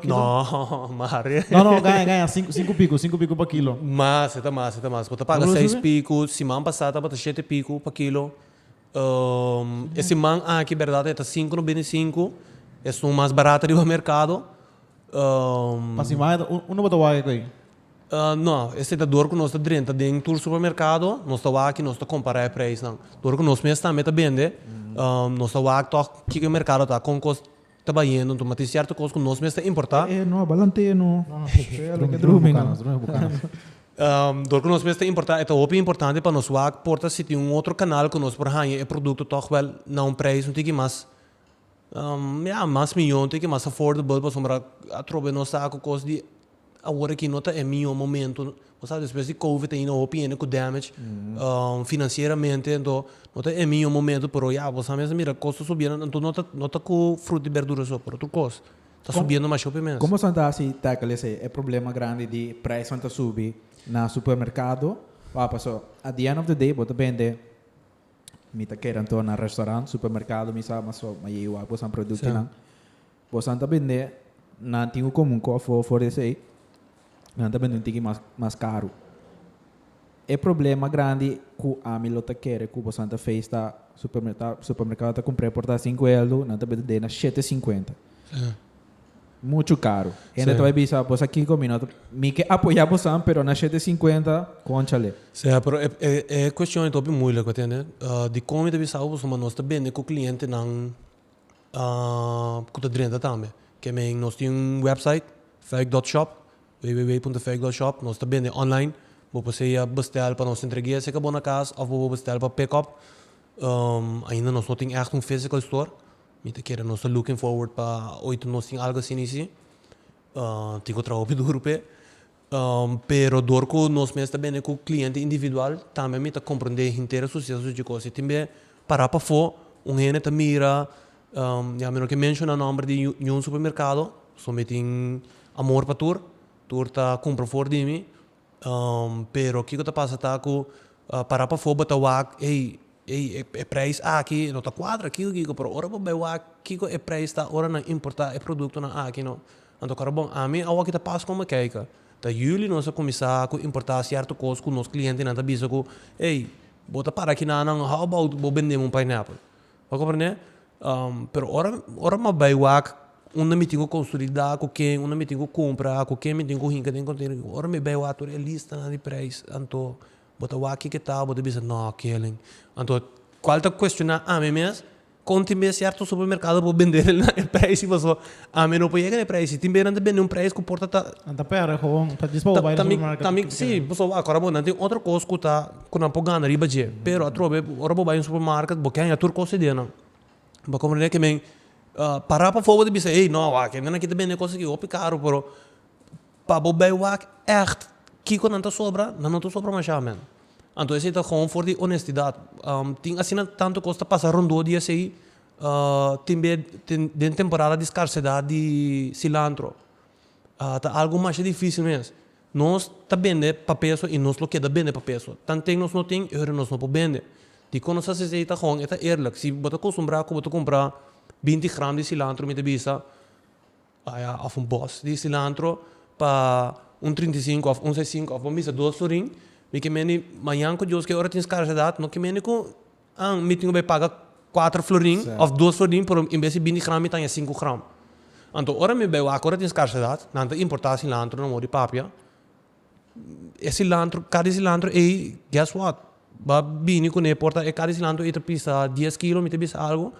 Speaker 2: no mare
Speaker 1: no no gaya
Speaker 2: gaya
Speaker 1: sinku
Speaker 2: piku sinku piku pa kilo mas esta mas esta
Speaker 1: mas bo ta paga seis piku siman pasa tabata shete piku pa kilo. E siman aki berdad e ta sinku no bini sinku, e ston mas barato riba mercado.
Speaker 2: Pa siman eta un no bo ta wak cu ei? No,
Speaker 1: e setador cu nos ta drenta den tur supermercado nos ta wak y nos ta compara e prijsnan. Dor cu nos mes tambe ta bende nos ta wak toch kico e mercado ta, con cos Ta bayendo anto ma tin cierto cos cu nos mes ta importa. E no a balantee no.
Speaker 3: Drumi ke
Speaker 1: drumi no. Drumi bucano. Dor cu nos mes ta importa e ta hopi importante pa nos wak por ta si tin un otro canal cu nos por hanja e producto toch wel na un prijs un tiki mas ya mas miyon un tiki mas affordable pasobra atrobe nos ta cu cos di awor aki no ta e mihó momento, bo sa despues di covid ainda hopi hende ku damage financieramente enton no ta e mihó momento pero ya bo sa mes a mira kos ta subiendo anto no ta no ta ku fruta i berdura so pero otro kos ta subiendo masho pe mes. Kon boso a ta hasi tackle
Speaker 3: esei e problema grandi di preisnan ta subi na supermerkado wak paso at di end of di day bo ta bende mi ta keda anto na restaurant, supermerkado mi sa mas so mayei wak boso a produkinan. Bosan ta bendé, nan tin un komun kò for for di esei, nan ta bendé un tiki mas mas karu. E problema grandi ku ami lo ta kere ku bosan ta feis ta supermerta supermerkado ta kumpr'é por ta sinku eldu, nan ta bendé na shete sinkuenta. Muchu karu. Hende ta bai bisa, Bos a kiko mi? Not mi ke apoyá bosan, pero na shete sinkuenta, konchale. Sea, pero e e
Speaker 1: e kueshon e topi muilik, mi tende, di kon mi ta bisa ku boso, ma nos ta bende ku klientenan. ku ta drenta tambe. Ke men nos tin un website feic dot shop www.feic.shop nos ta bende online bo por sea bestel pa nos entregue a seca bo na cas of bo por bestel pa pick up ainda nos no tin echt un physical store mi ta kere nos ta looking forward pa oi ta nos tin algo asina y si tin cu trabajo hopi duro p'e. Pero dor ku nos mes ta bende ku kliente individual, tambe mi ta komprende henter a su sies a su chikos. I tin be pará pafó, un hende ta mira, ya mi no ke menshoná nòmber di niun supermerkado, pasobra mi tin amor pa tur, tur ta kumpra for di mi, pero kiko ta pasa ta ku pará pafó bo ta wak, ey, ey, e preis aki no ta kuadra, kiko, kiko, pero ora bo bai wak kiko e preis ta ora nan importá e produktonan aki, no. Anto karo bon, ami awo aki ta pas kome keika. Ta juli nos a kuminsá ku importá sierto kos ku nos klientenan ta bisa ku, Ey, bo ta para kinanan, how about bo bendé mi un pineapple? Bo komprendé? Pero ora, ora mi a bai wak unda mi tin ku konsolidá, ku ken, unda mi tin ku kumprá, ku ken mi tin ku hinka den konteinernan, ora mi bai wak tur e listanan di preis, anto Bo ta wak kiketao, bo ta bisa, No, kelen. Anto, kual ta kuestioná ami mes, kon tin be sierto supermerkado por bendé nan na e preis i paso ami no por yega na e preis i tin be nan ta bendé un preis ku por ta ta Nan ta pèrdè gewoon.
Speaker 2: Ta djis pa bo bai den supermarket ta kere. Sí, paso bo a
Speaker 1: kora bo nan tin otro kos ku ta ku nan por gana riba dje. Pero atrobe ora bo bai den supermarket bo ke haña tur kos idea nan. Bo a komprendé ke men pará pafó bo ta bisa, Hey, no, wak, hende nan aki ta bendé kos aki hopi karu, pero Pa bo bai wak ègt kiko nan ta sobra, nan no ta sobra mashá mèn. Anto esei ta gewoon for di onestidat. Tin asina tantu kos ta pasa rondó di esei, tin be tin den temporada di skarsedat di silantro ta algu masha difísil mes. Nos ta bende pa peso i nos lo keda bende pa peso. Tan ten nos no tin e hora nos no por bende. Dikon nos hasi esei ta gewoon e ta eerlik. Si bo ta kostumbrá ku bo ta kumpra binti gram di silantro mi ta bisa, Paya of un bos di silantro pa un trinta i sinku of un sa i sinku of bo misa dos florin mi ke mendi mañan ku dios ke ora tin skarsedat no ke mendi ku an mi tin ku bay paga kuater florin of dos florin pero en bes di binti gram mi taña sinku gram anto ora mi bay wak ora tin skarsedat nan ta importa silantro nan wor di papia. e cilantro cada e cilantro ei guess what ba bini cune e porta cada e cilantro ei ta pisa dies kilo mi ta bisa algo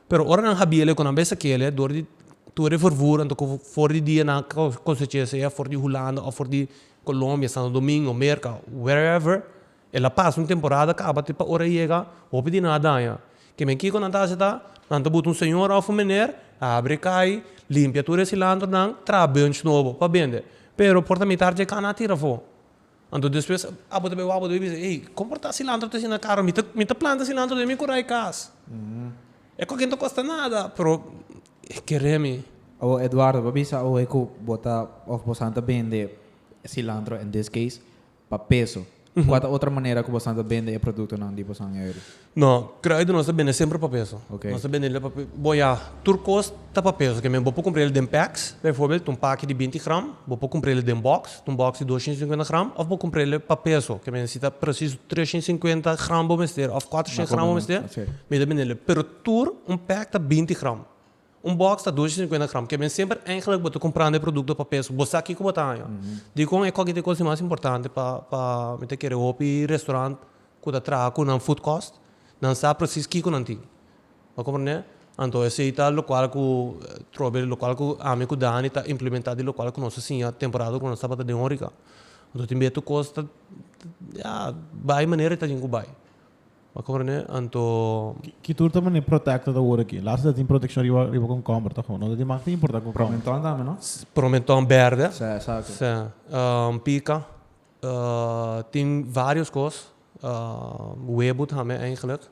Speaker 1: pero ora nan habiele cu nan bai saquele dor di tur e vervura anto cu for di dia nan a cosecha sea for di hulanda of for di colombia santo domingo merca where ever El a pasa un temporada kaba te pa ora yega hopi di nan a daña. Ke men kiko nan ta hasi ta, nan ta buta un señora of un mener, abri e kai, limpia tur e silantronan, traha bunch nobo pa bende. Pero por ta mitar dje kana a tira afo. Anto despues abo ta bay wak bo ta bay bisa, ey, kon por ta silantro ta asina karo? Mi ta mi ta planta silantro den mi kura e kas. E koken ta kosta nada, pero e kere mi. Awo Eduardo,
Speaker 3: bo a bisa awe ku bo ta of bo san ta bende silantro in this case. pa peso. Kua ta otro manera ku bosan ta bende e produktonan di bosan ei ora? No, kruida
Speaker 1: nos ta bende semper pa peso. Oke. Nos ta bende el pa pe,
Speaker 3: bo
Speaker 1: ya, tur kos ta pa peso. Kember bo por kumpra el den peks, bijvoorbeeld un paki di binti gram, bo por kumpra el den bòks, un bòks di dosciento cincuenta gram, òf bo kumpra el pa peso. Kember si ta presiso treshent sinkuenta gram bo mester òf kuatroshent gram bo mester, mi ta bende el. Pero tur un pek ta binti gram. Un bòks ta dos i sinkuenta gram. Ke men semper èinklik bo ta kumprando e produkto pa peso. Bo sa kiko bo ta haña. Dikon e kòkit dikos i mas importante pa pa mi ta kere hopi restorant ku ta traha ku nan food kòst nan sa presis kiko nan tin. Bo komprende? Anto esei ta lokual ku trobel lokual ku ami ku Dani ta implementá di lokual ku nos a siña temporada ku nos tabata den órika. Anto tin betu kos ta ya bai manera i ta tin ku bai. Ma Corne, anto. Ki tur ta mane
Speaker 2: protecta ta worde aki? Last ta tin proteccion riba riba komkomber toch ho? No ta tin mak ta importa komkomber. Promenton tambe no? S,
Speaker 3: promenton berde.
Speaker 1: Sa, exacto. Sa, pica, tin varios cos, webo tambe eigenlijk.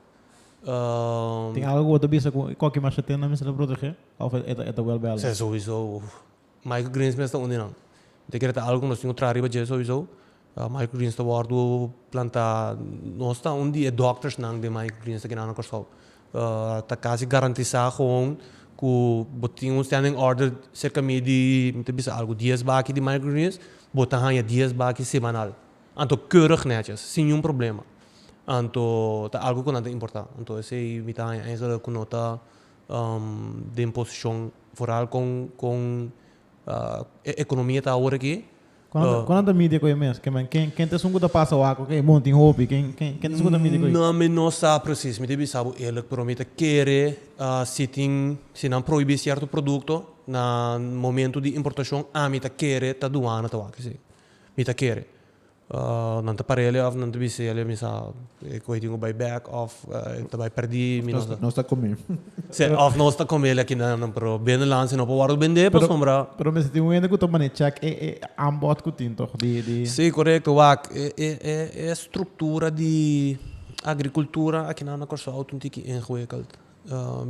Speaker 2: Tin algo cu bo ta bisa cu cualkier masha tin nan mester ta protege? Of e ta, e ta wel bel? Sa, sowieso.
Speaker 1: Microgreens mes ta uni nan. Te kere ta algo ku nos tin ku traha riba dje souiso. Microgreens ta wòrdu plantá, nos ta un di e dòkters nan den microgreens aki nan na Kòrsou. Ta kasi garantisá gewoon ku bo tin un standing order serka mi di, mi ta bisa algu dies baki di microgreens, bo ta haña dies baki semanal. Anto keurig nètjes, sin ningún problema. Anto ta algu ku nan ta importá. Anto esei mi ta haña eigenlijk ku no ta den posishon Vooral con con e economia ta awor aki. Con con nan ta
Speaker 2: midi cu e mes? Kema ken ken ta esun cu ta pasa awor cu e monti hopi? Ken ken ken ta esun cu ta midi cu ei? No mi no sa precies.
Speaker 1: Mi ta bisa bo eerlijk pero mi ta kere si tin si nan prohibi cierto producto na momento di importacion ami ta kere ta douana ta wak esi. Mi ta kere. Nan ta parea leu of nan ta bisa leu misa e koe tin ku bai bek of e ta bai perdi mi no sa. Nos ta kome.
Speaker 3: Sey of nos
Speaker 1: ta kome la kina nan por bende lan sino por wòrdu bende pasobra. Pero mester tin un hende ku ta
Speaker 2: mane chèk e e aanbod ku tin tòg di di. Si korekto wak
Speaker 1: e e e e struktura di agrikultura akinan na Kòrsou ta un tiki ingewikkeld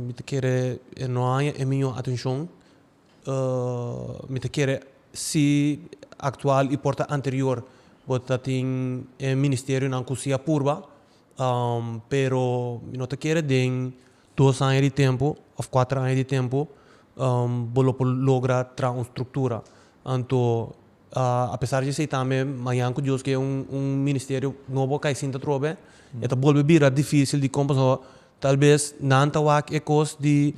Speaker 1: mi ta kere e no haña e miño atenshon Mi ta kere si aktual i por ta anterior bo ta tin e ministerionan ku si a purba, pero mi no ta kere den dos aña di tempu òf kuater aña di tempu bo lo por logra traha un struktura. Anto A pesar di esei tambe Manyan ku Dios ke un ministerio nobo kai sinta trobe, e ta bolbe bira difisil di kon pasobra tal bes nan ta wak e kos di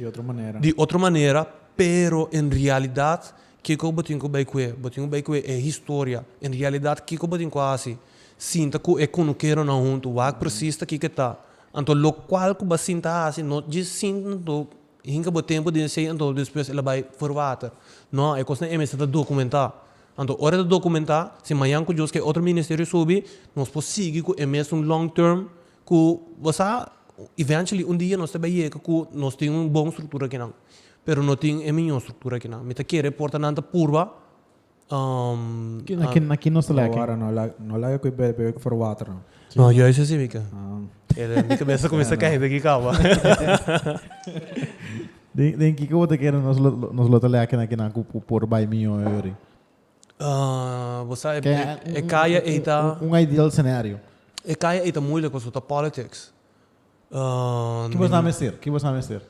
Speaker 1: di otro manera, pero en realidat kiko bo tin ku bai ku e? Bo tin ku bai ku e historia. En realidat kiko bo tin ku hasi sinta ku e konokeronan huntu, wak presis ta kiko e ta. Anto lokual ku bo a sinta hasi no dje sinta anto E hinka bo tempu den se anto despues el a bai for water. No, e kosnan e mester ta documentá. Anto ora e ta documentá, si mañan ku Dios ke otro ministerio subi, nos por sigui ku e mesun long term ku bo sa, eventually un dia nos ta bai yega ku nos tin un bon struktura akinan. Pero no tin e miñó struktura akinan. Mi ta kere por ta nan ta purba
Speaker 2: Aki nos ta lei aki. No lei
Speaker 3: aki bebe for water no. No yo eso si
Speaker 1: mica. Mi cabeza ta cuminsa cahe aki caba.
Speaker 2: Den kico bo ta kere nos lo ta lei aki na kinan cu por bai miyo yuri?
Speaker 1: Bo sa e caya ei ta. Un ideal scenario.
Speaker 2: E caya ei ta
Speaker 1: moeilijk pasobra ta politics.
Speaker 2: Ki bo sa mester? Ki bo sa mester?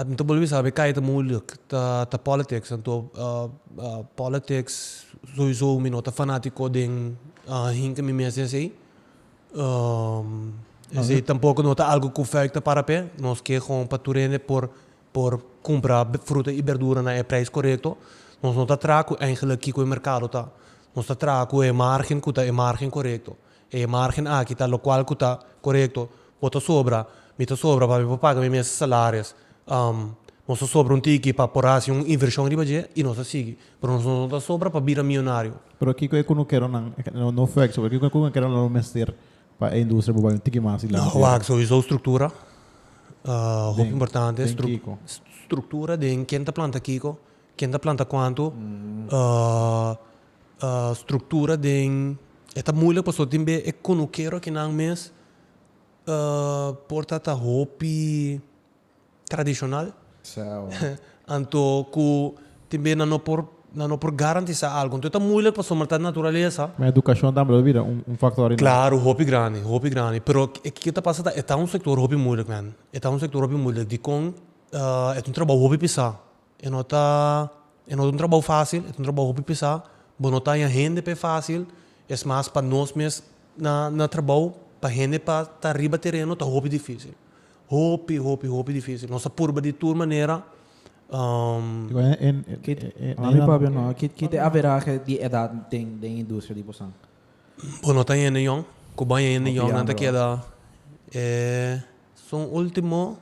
Speaker 2: Mi ta
Speaker 1: bolbe sabe kai ta mulik. Ta ta politics anto politics sowiso mi no ta fanatiko den hinka mi mes esei. Esei tampoko no ta algu ku Vuik ta para p'e. Nos ke gon pa tur hende por por kumpra fruta i berdura na e preis korekto. Nos no ta traha ku eingelik kiko e merkado ta. Nos ta traha ku e margen ku ta e margen korekto. E margen aki ta locual cu ta corecto, bo ta sobra, mi ta sobra pa mi por paga mi mes salares, nos ta sobra un tiki pa por haci un inversion riba dje y nos ta sigui, pero nos no ta sobra pa bira millonario. Pero kico e
Speaker 2: cunukeronan, no fuekso, pero kico e cunukeronan lo mester pa e industria por bai un tiki mas dilanti? No, wak, sowiso structura,
Speaker 1: hopi importante, structura den ken ta planta kico, ken ta planta cuantu, struktura den e ta muilik pasobra tin be e konukero akinan mes por tata hopi tradishonal anto ku tin be nan no por nan no por garantisa algu anto e ta muilik pasobra ta naturalesa. Ma edukashon tambe lo
Speaker 2: bira un faktor ainan. Klaru hopi grandi
Speaker 1: hopi grandi pero e ke ta pasa ta e ta un sektor hopi muilik men e ta un sektor hopi muilik dikon e ta un trabou hopi pesá. E no ta e no ta un trabou fásil, e ta un trabou hopi pesá. Bo no ta haña hende p'e fásil, es mas pa nos mes na na trabou. Pa hende pa ta riba tereno ta hopi difísil, hopi, hopi, hopi difísil. Nos a purba di tur manera.
Speaker 3: Kit e averahe di edat den den e industria di Boston? Bo no ta
Speaker 1: haña hende yòn. Ku bo haña hende yòn nan ta keda e son último.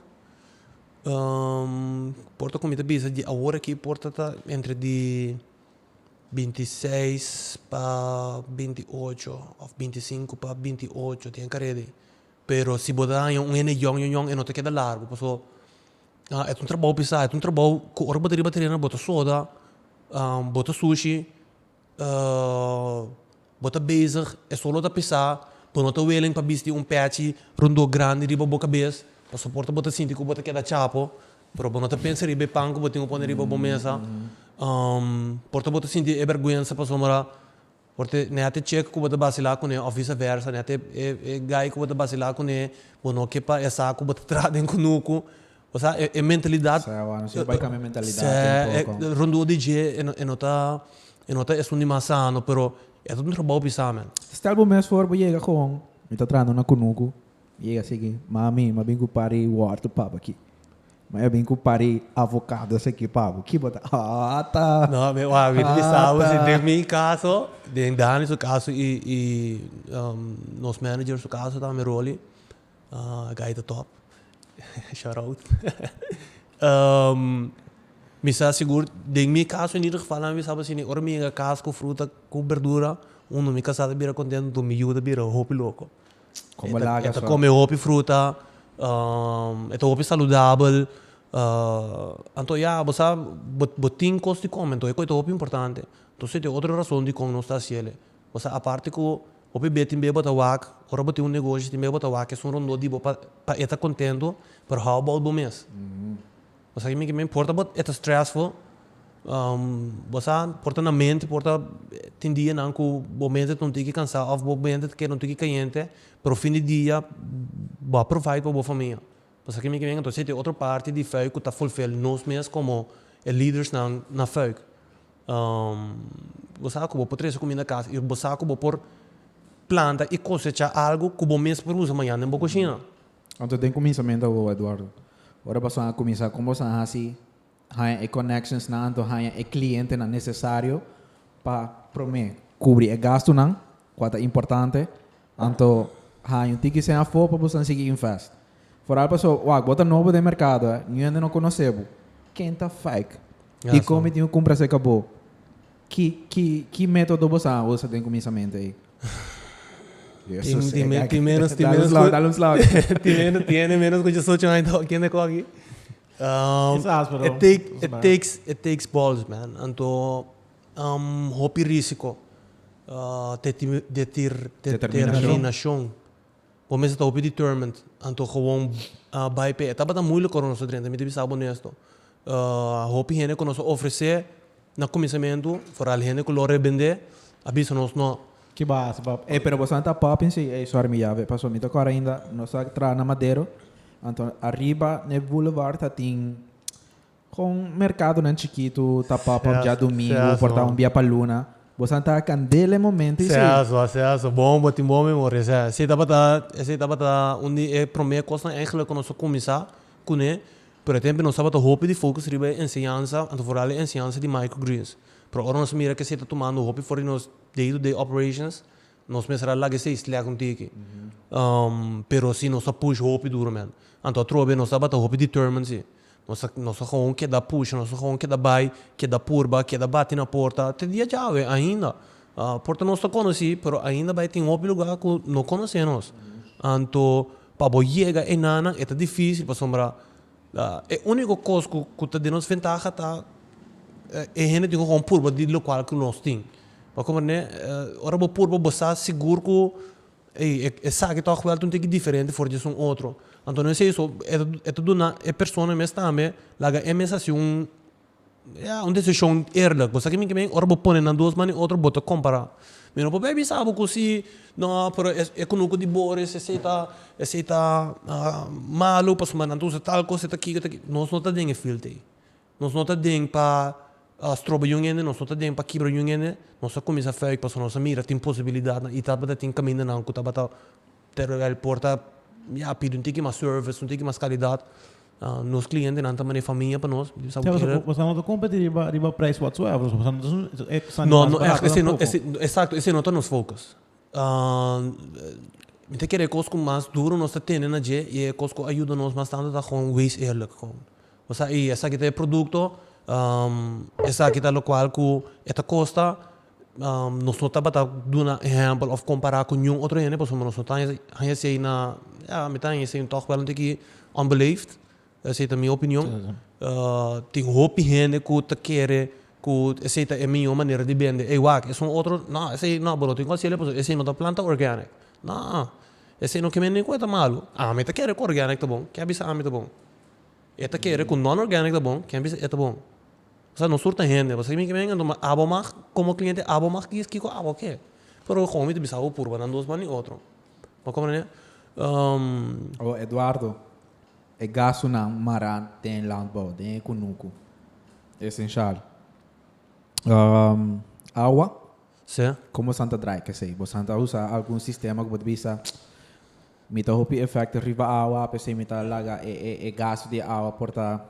Speaker 1: por ta komo mi ta bisa di awor aki por ta ta entre di binti i seis pa binti i ocho òf binti i sinku pa binti i ocho te kara e di pero si bo ta haña un hende yòn yòn yòn e no ta keda largu pasobra e ta un trabou pesá e ta un trabou ku ora bo ta riba tren bo ta soda bo ta sushi bo ta bezig e solo ta pesa bo no ta willing pa bisti un pechi rondó grandi riba bo kabes pasoporta bo ta sinti ku bo ta keda chapo pero bo no ta pensa riba e pan ku bo tin ku pone riba bo mesa por ta bo ta sinti e bèrgwensa pasobra por te neha te chek ku bo ta basila kuné of visa vèrsa neha te e gai ku bo ta basila kuné bo no ke pa e sa ku bo ta traha den kunuku. O sea, e e mentalidad. Sea awor nos tin bai cambia
Speaker 3: mentalidad un poco. Sea, rondó di dje
Speaker 1: e no e no ta e no ta esun di mas sano, pero e ta un trabao pisá men. Stel bo mes for bo
Speaker 3: yega con, Mi ta traha na una cunucu, mi yega sigi, Mami, m'a bin cu par di wortel pa bo aki. Mami, a bin cu par di avocados aki pa bo. Ki bo ta hata, hata.
Speaker 1: Den mi caso, den Danny su caso y y nos manager su caso tambe Rolly. Guy ta top. Shout out. Mi sa sigur, den mi caso en ieder geval, mi sa asina, ora mi yega cas cu fruta cu berdura, uno, mi casa ta bira contento, dos, mi yu ta bira hopi loco. E
Speaker 3: ta come hopi fruta,
Speaker 1: e ta hopi saludabel. Anto ya, bo sa, bo tin cos di come, anto e cos ta hopi importante. Entonces, e otro razon dicon nos ta haciele. Bo sa aparte cu hopi be tin be bo ta wak, ora bo tin un negoshi tin be bo ta wak esun rondó di bo pa pa e ta contento, pero how about bo mes? Bo sa kimi? No porta bo e ta stressful, bo sa porta na mente porta tin dianan cu bo mente ta un tiki cansa of bo mente ta keda un tiki cayente, pero fin di dia bo a provide pa bo famia, Pasobra mi cree entonces tin otro parti di fuik cu ta fulfil nos mes como e lidersnan na fuik. Bo sa cu bo por trece comida na casa y bo sa cu bo por planta y cosecha algo cu bo mes por usa mañana den bo cushina. Anto den
Speaker 3: cuminsamentu abo Eduardo, ora bo a cuminsa con bo a haci. Haña e connectionsnan anto haña e clientenan necesario pa prome cubri e gastunan cua ta importante anto haña un tiki sey afo pa bo san sigui invest. Foral paso wak bo ta nobo den mercado e niun hende no conoce bo, ken ta fake? Dicon mi tin cu cumpra acerca bo? Ki ki ki metodo bo sa usa den cuminsamente ey? Tin
Speaker 1: menos tin menos cu tin menos tiene menos cu dicisocho aña ta hopi kende cogi. It takes balls man anto hopi risiko te determinashon bo mester ta hopi determined anto gewoon bai p'e e tabata muliku ora nos ta drenta mi ta bisa bo onesto hopi hende ku nos ta ofresé Na kuminsamentu, foral hende ku lo rebend'é a bisa nos no. Ki basa pa
Speaker 2: ey, pero boso a ta
Speaker 3: popin si ey sor mi Yahweh, paso mi ta kor ainda nos ta traha na Madero, anto ariba n'e boulevard ta tin kon merkadonan chikitu ta pop up dia dumingu for ta un bia pa luna, boso a ta kandel e momento y si. Seso, bon
Speaker 1: bo tin bon memoria, esey tabata esey tabata un di e promé kosnan eigenlijk ku nos a kuminsá Kuné? Pero e tempe nos tabata hopi di focus riba e enseñansa, anto foral e enseñansa di microgreens. Pero ora nos a mira cu esei ta tumando hopi for di nos day to day operations, nos mester a laga esei slek un tiki. Pero si nos ta push hopi duromente. Anto atrobe nos tabata hopi determined si. Nos ta nos ta gewoon keda pusha, nos ta gewoon keda bai, keda purba, keda bati na porta, te dia djawe ainda. Porta nos ta konosí, pero ainda bai tin hopi lugá ku no konosé nos. Anto pa bo yega enanan e ta difísil pasobra e úniko kos ku ta den nos ventaha ta e hende tin ku kon purba di lokual ku nos tin. Bo a komprendé? Ora bo purba bo sa sigur ku, ey, esaki tòg wèl ta un tiki diferente for di esun otro. Anto no esei so, e ta duna e personanan mes tambe laga e mes hasi un. Ya un desishon eerlik bo sa kimin kimin ora bo pone nan dos man i otro bo ta kompara mi no por bai bisa bo ku si no pero e ku no ku di boris esei ta esei ta malu pasobra nan ta usa tal kos e ta aki e ta aki nos no ta den e field te nos no ta den pa stroba yun hende nos no ta den pa kibra yun hende nos a kuminsha feik pasobra nos a mira tin posibilidadnan i tabata tin kamindanan ku tabata Pero el por ta ya pidi un tiki mas service, un tiki mas calidad. Nos clientenan ta manera famia pa nos. Bo sa bo kere. Bo sa no ta
Speaker 2: competi riba riba prijs whatsoever. Bo sa no ta esun esaki mas
Speaker 1: barato tampoco. No, no esei no, exacto esei no ta nos focus. Mi ta kere e cos cu mas duro nos ta tene na dje y e cos cu a yuda nos mas tanto ta gewoon wees eerlijk gewoon. Bo sa y esaki ta e producto, esaki ta locual cu e ta costa. nos no tabata duna ehèmpel òf kompará ku niun otro hende pasobra nos no ta haña esei na ya mi ta haña esei tòg wèl un tiki onbeleefd esei ta mi opinion tin hopi hende ku ta kere ku esei ta e mihó manera di bende ey wak esun otro nò esei nò bo no tin ku hasil'e pasobra esei no ta planta organic nò esei no ke bende ningún e ta malu ami ta kere ku organic ta bon ke a bisa ami ta bon e ta kere ku non'organic ta bon ke a bisa e ta bon. Osea nos tur ta hende, bo sa kimi kimen anto ma abo mag komo kliente abo mag kies kiko abo ke. Pero komo mi ta bisa bo purba nan dos man di otro. Bo komprende? Oh Eduardo, e
Speaker 3: gastunan mara den e landbou, den e kunuku, esenshal. Awa, komo
Speaker 1: bosan ta drai
Speaker 3: kesei, bosan ta usa algun sistema ku bo ta bisa mi ta hopi efekto riba awa, pesei mi ta laga e gastu di awa por ta.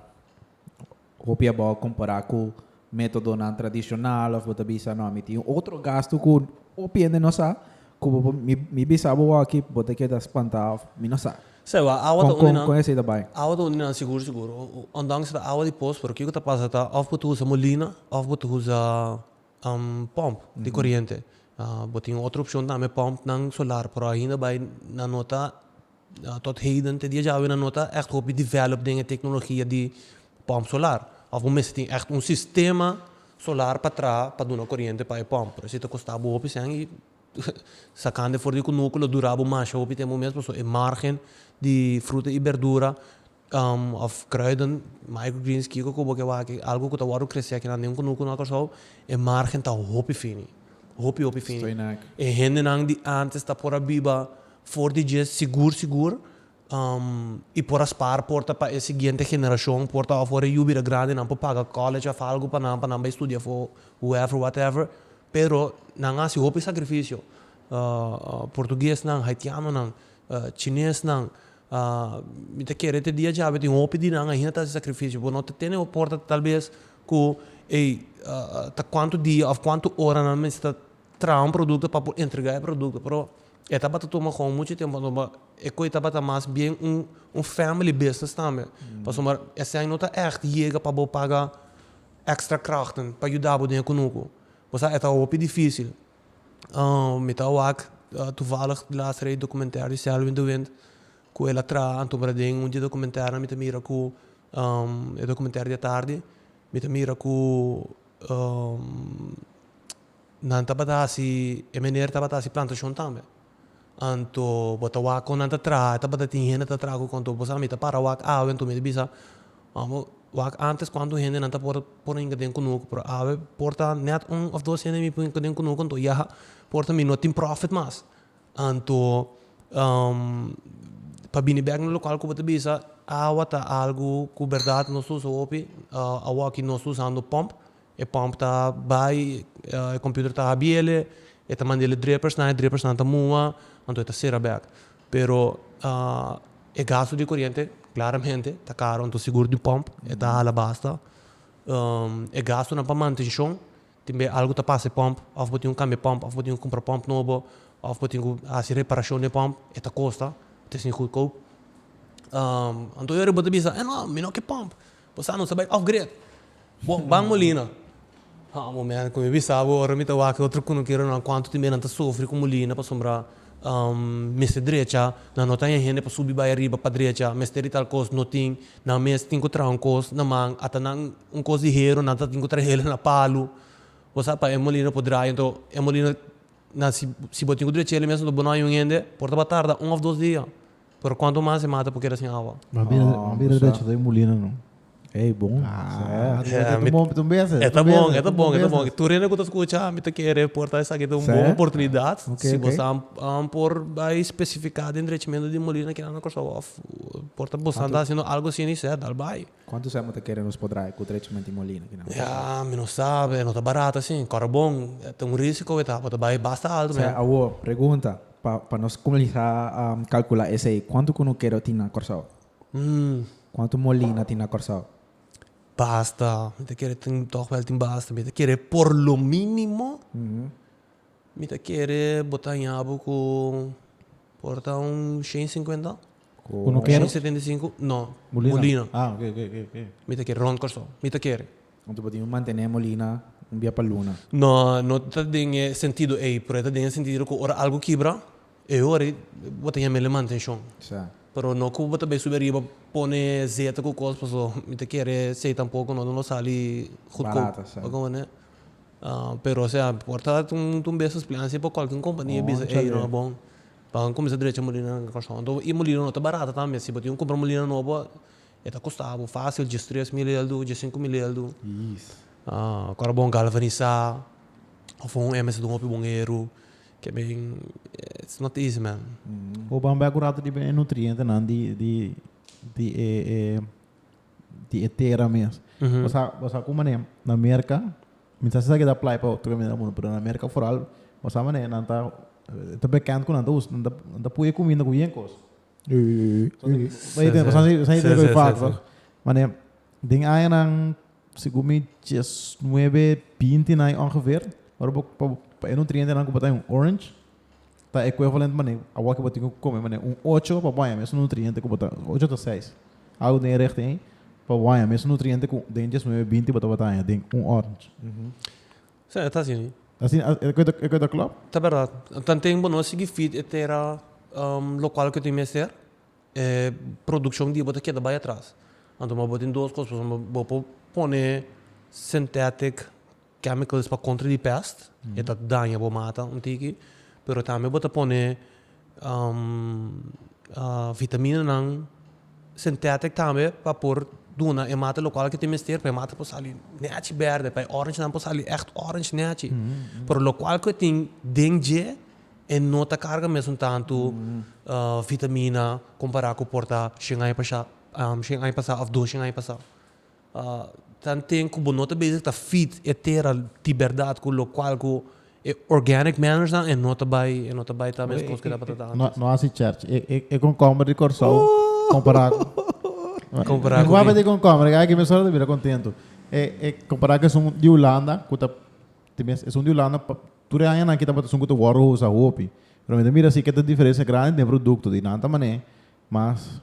Speaker 3: Hopi abao a compará cu metodonan tradicional of bo ta bisa no mi tin un otro gasto cu hopi hende no sa cu bo por mi mi bisa bo aki bo ta keda spanta of mi no sa. Sa bo a awa ta con con
Speaker 1: con esey ta bay? Awa ta
Speaker 3: undi nan sigur
Speaker 1: sigur ondanks ta awa di post pero kico ta pasa ta of bo ta usa molina of bo ta usa pump di coriente bo tin otro opcion tambe pump nan solar pero ainda bay nan no ta Tot heden te dia djawe nan no ta ègt hopi develop den e teknologia di pòmp solar. Òf bo mester tin ègt un sistema solar pa traha pa duna koriente pa e pòmp. Por esi ta kosta bo hopi sèn i sakando e for di e kunuku lo dura bo masha hopi tempu mes pasobra e màrgen di fruta i berdura Of kruiden, microgreens, kiko ku bo ke wak algu ku ta wòrdu kresé akinan den kunuku na Kòrsou, e margen ta hopi fini. Hopi hopi fini. E hendenan
Speaker 3: di
Speaker 1: ántes ta por a biba for di dje sigur sigur i por a spar por ta pa e siguiente generashon por ta òf ora e yu bira grandi nan por paga kòlèj òf algu pa nan pa nan bai studia afó whoever whatever pero nan hasi hopi sakrifisio portuguesnan haitianonan chinesnan. Mi ta kere te dia djabe tin hopi di nan ainda ta hasi sakrifishi por no ta tene un oporta tal bes ku ey ta kuantu dia of kuantu ora nan mester ta traha un produkto pa por entrega e produkto pero e tabata tuma gou muchu tempo anto e ko ey tabata mas bien un family business tambe pasobra esei no ta echt yega pa bo paga extra krachten pa yuda bo den e kunuku bo sa e ta hopi dificil. mi ta wak toevallig di last rei documentair di Selwyn de Wint cu el a traha anto pero den un di e documentairnan mi ta mira cu e documentair di atardi mi ta mira cu nan tabata hasi e meneer tabata hasi plantacion tambe. anto bo ta wak kon nan ta traha e tabata tin hende ta traha ku konto bo sa mi ta para wak awe anto mi ta bisa amo wak antes kuantu hende nan ta por por a hinka den kunuku pero awe por ta net un of dos hende mi por hinka den kunuku anto ya por ta mi no tin profit mas anto pa bini bek na lokual ku bo ta bisa awa ta algu ku berdad nos ta usa hopi a wak no ta usando pomp E pump ta bai, e computer ta habiele, e ta manda el e dripersnan, e dripersnan ta mua, anto e ta cera bek. Pero e gasto di coriente claramente ta caro, anto sigur di pump e ta hala basta. E gastonan pa mantencion, tin bey algo ta pasa e pump, of bo tin cu cambia e pump, of bo tin cu cumpra pump nobo, of bo tin cu haci reparacion den e pump, e ta costa, it is niet goedkoop. Anto ora bo ta bisa, eh no, mi no ke pump, Bo sa nos a bai off-grid. Bo ban Molina. Ha bo men, ku mi bisa bo ora mi ta wak e otro kunukero nan kuantu tin bia nan ta sufri ku Molina pasobra mester drecha, nan no ta haña hende pa subi bai ariba pa drecha, mester di tal kos, no tin. Nan mes tin ku traha un kos na man, ata nan un kos di hero nan ta tin ku trahela na palu. Bo sa pa e Molina por draya enton e Molina nan si si bo tin ku drechela mes enton bo no haña un hende por ta ba tarda un of dos dia. Pero cuanto mas e mata por keda sin awa. Mas bien mas bien a decha
Speaker 2: ta e mulina no. Ey bon. E ta bon e ta
Speaker 1: bon e ta bon. Tur hende cu ta scucha mi ta kere porta esaki ta un bon oportunidad si boso a a por bay specifica den drechamiento di molina kinan na Curaçao of por ta boso a ta haciendo algo sin e set al bay. Cuanto sema ta kere nos
Speaker 3: por draya cu drechamiento di molina kinan? Ya mi no sabe
Speaker 1: no ta barato asin. Cora bon ta un risico e ta. Bo ta bay basta alto men. Sea awo pregunta.
Speaker 3: Pa pa nos cuminsa calcula esey cuanto cu nuquero tin na Corsou? Cuanto molina tin na Corsou? Basta
Speaker 1: mi ta kere tin toch wel tin basta mi ta kere por lo minimo mi ta kere bo ta hañabo cu por ta un shen cincuenta shen setenta y cinco no molina
Speaker 2: mi ta kere rond Corsou
Speaker 1: mi ta kere. Anto bo tin un mantené
Speaker 3: molina un bia pa luna. No, no ta
Speaker 1: den e sentido ei, pero e ta den e sentido ku ora algu kibra, e ora ei bo ta yama el e mantenshon. Sa. Pero no ku bo ta bai subi ariba pone zeta ku kos, paso mi ta kere sei tampoko no lo sali gutkoup. Barato, sa.
Speaker 3: Oko bo ne?
Speaker 1: Pero osea, por ta muntu un bes splensje pa kualke un kompania e bisa ei no a bon, pa bo kuminsá drecha e molinanan. Anto i molina no ta barato tambe, si bo tin un kumpra molina nobo, E ta kosta abo fásil djes tres mileldu, djes sinku mileldu.
Speaker 3: Kor a bon
Speaker 1: galvanisá òf un hèmber si ta un hopi bon eru, ke men
Speaker 2: it's not
Speaker 1: easy
Speaker 2: man. Bo ban bai ku
Speaker 1: rato riba
Speaker 2: e nutrientenan
Speaker 1: di
Speaker 2: di di e e di e tera mes. Bo sa bo sa ku manera na Merka, mi ta sa ke ta aplai pa otro kant na mundu pero na Merka foral bo sa manera nan ta ta bekend ku nan ta usa nan ta pui e kuminda ku bien kos. den añanan segun mi dies nuebe binti nan ongeveer ora bo pa e nutrientenan ku bo ta den un orange ta equivalent mane awor ku bo tin ku kome mane un ocho pa bo a mesun nutriente ku bo ta ocho ta seis algu den e richting ei pa bo a mesun nutriente ku den dies nuebe binti bo tabata a den un orange.
Speaker 1: Sa, e ta asina. Ta asina? A, e cuenta,
Speaker 2: e cuenta clop? Ta berdad.
Speaker 1: Tanten bo no a sigui feed e tera locual cu tin mester, e produccion di bo ta keda bai atras. Anto mas bo tin dos cos pasobra bo, bo por pone synthetic chemicals pa contra di pest, e ta daña bo mata un tiki, pero tambe bo ta pone vitaminanan, sintetic tambe pa por duna e mata lokual ke tin mester pa e mata por sali nèchi bèrdè, pa e orangenan por sali ègt orange nèchi, pero lokual ke tin den dje e no ta karga mesun tantu vitamina kompará ku por ta shen aña pasha, shen aña pasá òf dos shen aña pasá. Tan tin ku bo no ta bezig ta feed e tera di berdad ku lokual ku e organic manners nan e no ta bai e no ta bai ta meskos ku e tabata ta antes. No hasi chèrch.
Speaker 2: E konkomber di Kòrsou kompará ku Kompará ku ki? Mi papia tin konkomber i ai aki mi solo ta bira kontentu. E kompará ku esun di Hulanda ku ta ta mes esun di Hulanda pa tur e añanan aki tabata esun ku ta wòrdu usa hopi. Pero mi ta mira si ke ta diferensia grandi den produkto di nan ta manera mas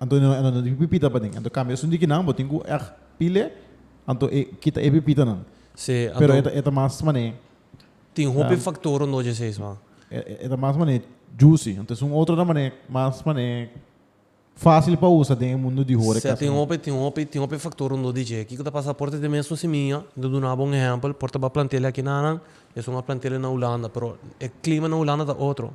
Speaker 2: Anto e no tin pipita paden. Anto cambia esun dikinan bo tin cu ect pile anto e kita e pipitanan. Sí, Pero anto e
Speaker 1: ta mas
Speaker 2: mane. tin hopi
Speaker 1: factor anto dje seis man. E ta mas mane
Speaker 2: juicy. Anto esun otro nan mane mas mane facil pa usa den e mundo di hora. Sí, tin hopi tin hopi
Speaker 1: tin hopi factor anto di dje. Kico ta pasa por ta tin mesun simiña. Lo duna bo un ehempel por ta ba plantelia aki nanan esun a plantelia na Hulanda pero e clima na Hulanda ta otro.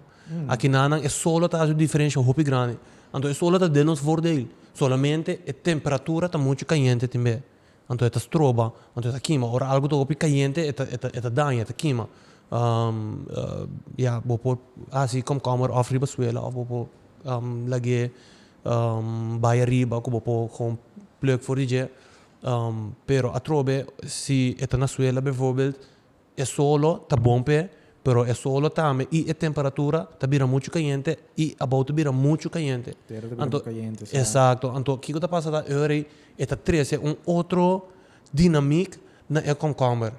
Speaker 1: Akinanan e solo ta hasi un diferensha hopi grandi. Anto e solo ta den nos vordeel. Solamente e temperatura ta muchu kayente tin bee. Anto e ta stroba, anto e ta kima. Ora algu ta hopi kayente e ta e ta e ta daña, e ta kima. ya, bo por hasi komkomber òf riba suela òf bo por lag'é bai ariba ku bo por gewoon plùk for di dje. Pero atrobe si e ta na suela bivoorbeeld E solo ta bon p'e, pero e solo tambe i e temperatura ta bira muchu kayente i abou ta bira muchu kayente. Tera ta bira muchu kayente,
Speaker 3: sa. Exacto.
Speaker 1: Anto kiko ta pasa ta ora ei e ta trece un otro dinamiek na e komkomber.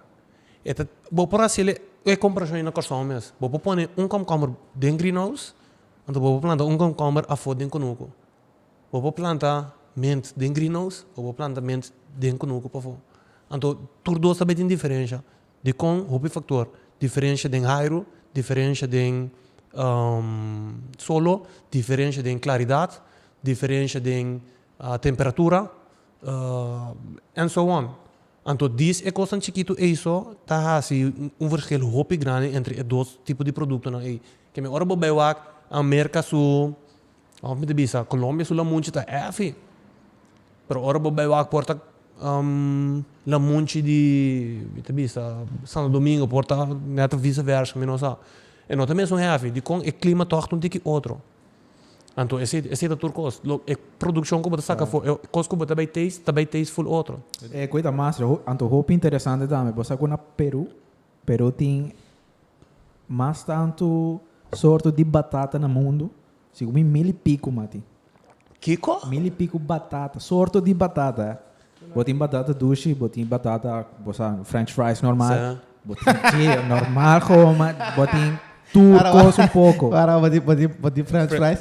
Speaker 1: E ta, bo por haciel e comparacion ei na Kòrsou mes. Bo por pone un komkomber den greenhouse, anto bo por planta un komkomber afó den kunuku. Bo por planta mint den greenhouse o bo por planta mint den kunuku pafó. Anto tur dos ta bay tin diferensha dikon hopi faktor, diferensha den hairu, diferensha den solo, diferensha den klaridat, diferensha den temperatura and so on. Anto dis e kosnan chikitu ey so ta hasi un vershel hopi grandi entre e dos tipo di produktonan ey. Keme ora bo bay wak a merka su Of mi ta bisa Colombia su lamunchi ta hefi. Pero ora bo bai wak por ta lamunchi di mi ta bisa Santo Domingo por ta net of vice versa mi no sa. E no ta mesun hefi dikon e clima ta hoog unti ki otro. Anto esei esei ta tur kos. Lo e produccion ku bo ta saka afo e kos ku bo ta bai taste ta bai taste full otro. E ku e ta mas
Speaker 3: anto hopi interesante tambe bo sa ku na Peru Peru tin mas tantu sorto di batata na mundu, segun mi mil i piku ma tin. Kiko?
Speaker 1: Mil i piku
Speaker 3: batata, sorto di batata. Bo tin batata dushi, bo tin batata, bo sa, french fries normal. Sa. Bo tin dje, normal, gomo, bo tin tur kos un poko. Wara, bo tin, bo tin, bo
Speaker 2: tin french fries?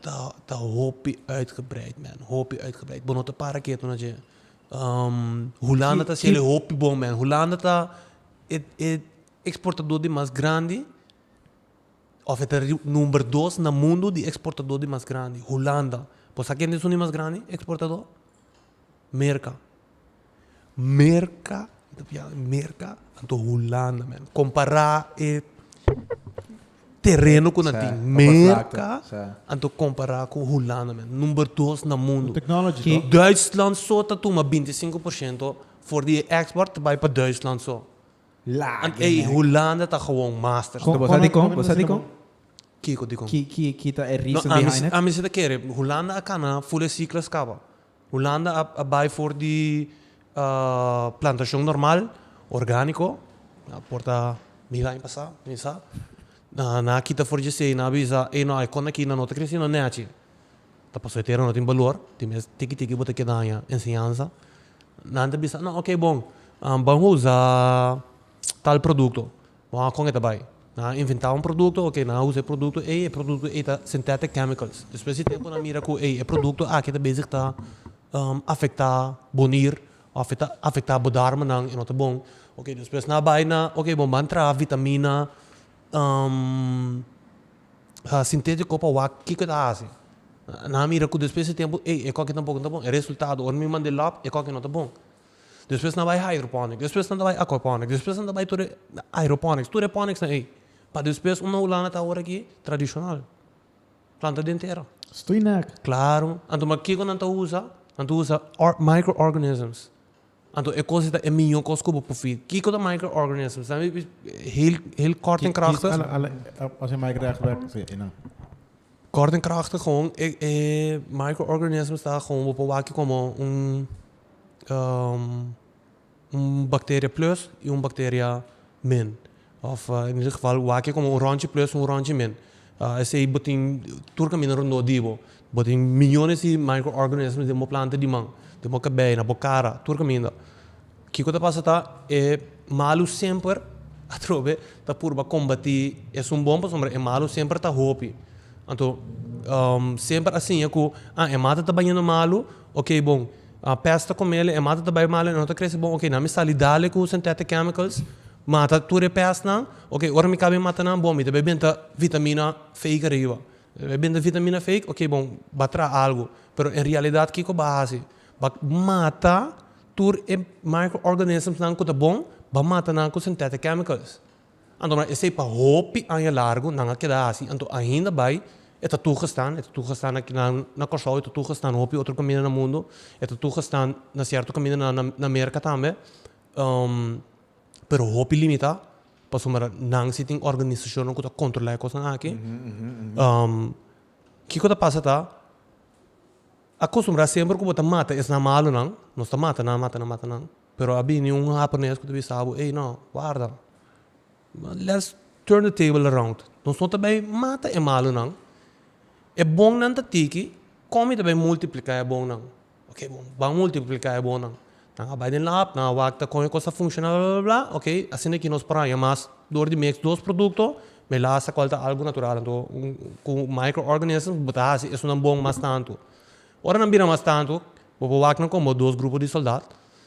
Speaker 1: Ta ta hopi uitgebreid men, hopi uitgebreid. Bo no ta para ketu na dje. Hulanda ta hasiel e hopi bon men. Hulanda ta e e eksportadó di mas grandi òf e ta number dos na mundu di eksportadó di mas grandi. Hulanda. Bo sa kende su di mas grandi eksportadó? Merka. Merka, mi ta pia merka anto Hulanda men. Kompara e tereno ku nan tin. Merka anto kompara ku Hulanda men. Number dos na mundu. Duitsland
Speaker 2: so
Speaker 1: ta tuma binti sinku por shento for di e eksport ta bai pa Duitsland so. An ei Hulanda ta gewoon master. Bo sa dikon? Bo sa
Speaker 3: dikon? Kiko di kon?
Speaker 1: Ki ta e reason
Speaker 3: behind it? Ami si
Speaker 1: ta
Speaker 3: kere,
Speaker 1: Hulanda a kana full e siklo a skaba. Hulanda a bai for di plantashon normal, orgániko, a por ta mil aña pasá, ken sa. Nan a kita for dje sei, nan a bisa, ei no, e konde aki nan no ta kresé no nèchi. Ta pasó e tera no tin balor, tin mes tiki tiki bo ta keda haña enseñansa. Nan ta bisa, no, oké bon, ban usá tal produkto. Bo a kon e ta bai. Nan a inventá un produkto, oke, nan a usa e produkto ei, e produkto ei ta synthetic chemicals. Despues di tempu nan mira ku, ei, e produkto aki ta bezig ta afektá bo nir, òf e ta afektá bo darmanan, e no ta bon. Oke, despues nan a bai na, oke, bo ban traha vitamina sintétiko pa wak, kiko e ta hasi? Nan a mira ku despues di tempu, ei, e kòki tampoco no ta bon. E resultado, ora mi manda e lòb, e kòki no ta bon. despues nan ta bai hydroponics, despues nan ta bai aquaponics, despues nan ta bai tur e hydroponics, tur e ponics nan ey, pa despues un houlana ta awor aki tradicional, planta den tera. Stoei nèk.
Speaker 2: Claro, anto ma
Speaker 1: kico nan ta usa? Nan ta usa or microorganisms, anto e cos ei ta e miyo cos cu bo por feed. Kico ta microorganisms? Nan a bisti heel heel kort en krachtig, Kies ala ala os e
Speaker 2: microorganisms wèk? Si, einan.
Speaker 1: kort en krachtig, gewoon e e microorganisms ta gewoon bo por wak aki como un. un bacteria plus y un bacteria min of en ieder geval wak como un ronchi plus y un ronchi min esey bo tin tur caminda rond dor dibo bo tin millones di micro organismos den bo planta diman den bo cabey na bo cara tur caminda kico ta pasa ta e malo semper atrobe ta purba combati esun bon pasobra e malo semper ta hopi anto semper a siña cu a e mata ta bañando malo Ok bon, a pesta con mele, e mata ta bay malo, e no ta crece bon, ok, nan mi sali dale cu synthetic chemicals, mata tur e pestnan, ok, ora mi caba e mata nan, bon, mi ta bay benta vitamina fake ariba, mi ta bay benta vitamina fake, ok bon, ba traha algo, pero en realidad kico ba haci? Ba mata tur e microorganismsnan cu ta bon, ba mata nan cu synthetic chemicals. Anto nan esei pa hopi aña largu nan a keda hasi, anto ainda bai e ta tugestaan, e ta tugestaan aki nan na Kòrsou, e ta tugestaan hopi otro kaminda na mundu, e ta tugestaan na sierto kaminda na na na Merka tambe, pero hopi limitá, pasobra nan si tin organisashonnan ku ta kontrolá e kosnan aki. Kiko ta pasa ta, akustumbrá semper ku bo ta mata esnan malunan, nos ta mata nan, mata nan, mata nan Pero a bini un hapones cu ta bisa bo, ey no, warda, let's turn the table around, nos no ta bay mata e malunan, e bonnan ta tiki, con mi ta bay multiplica e bonnan? Ok, bo ban multiplica e bonnan, nan a bay den lab, nan a wak con e cos ta funciona bla, bla, bla, ok, asina aki nos por haya mas door di mes dos producto, me lasa cual ta algo natural, anto un micro organism bo ta haci esonan bon mas tanto. Ora nan bira mas tantu, bo por wak nan como dos grupo di soldad.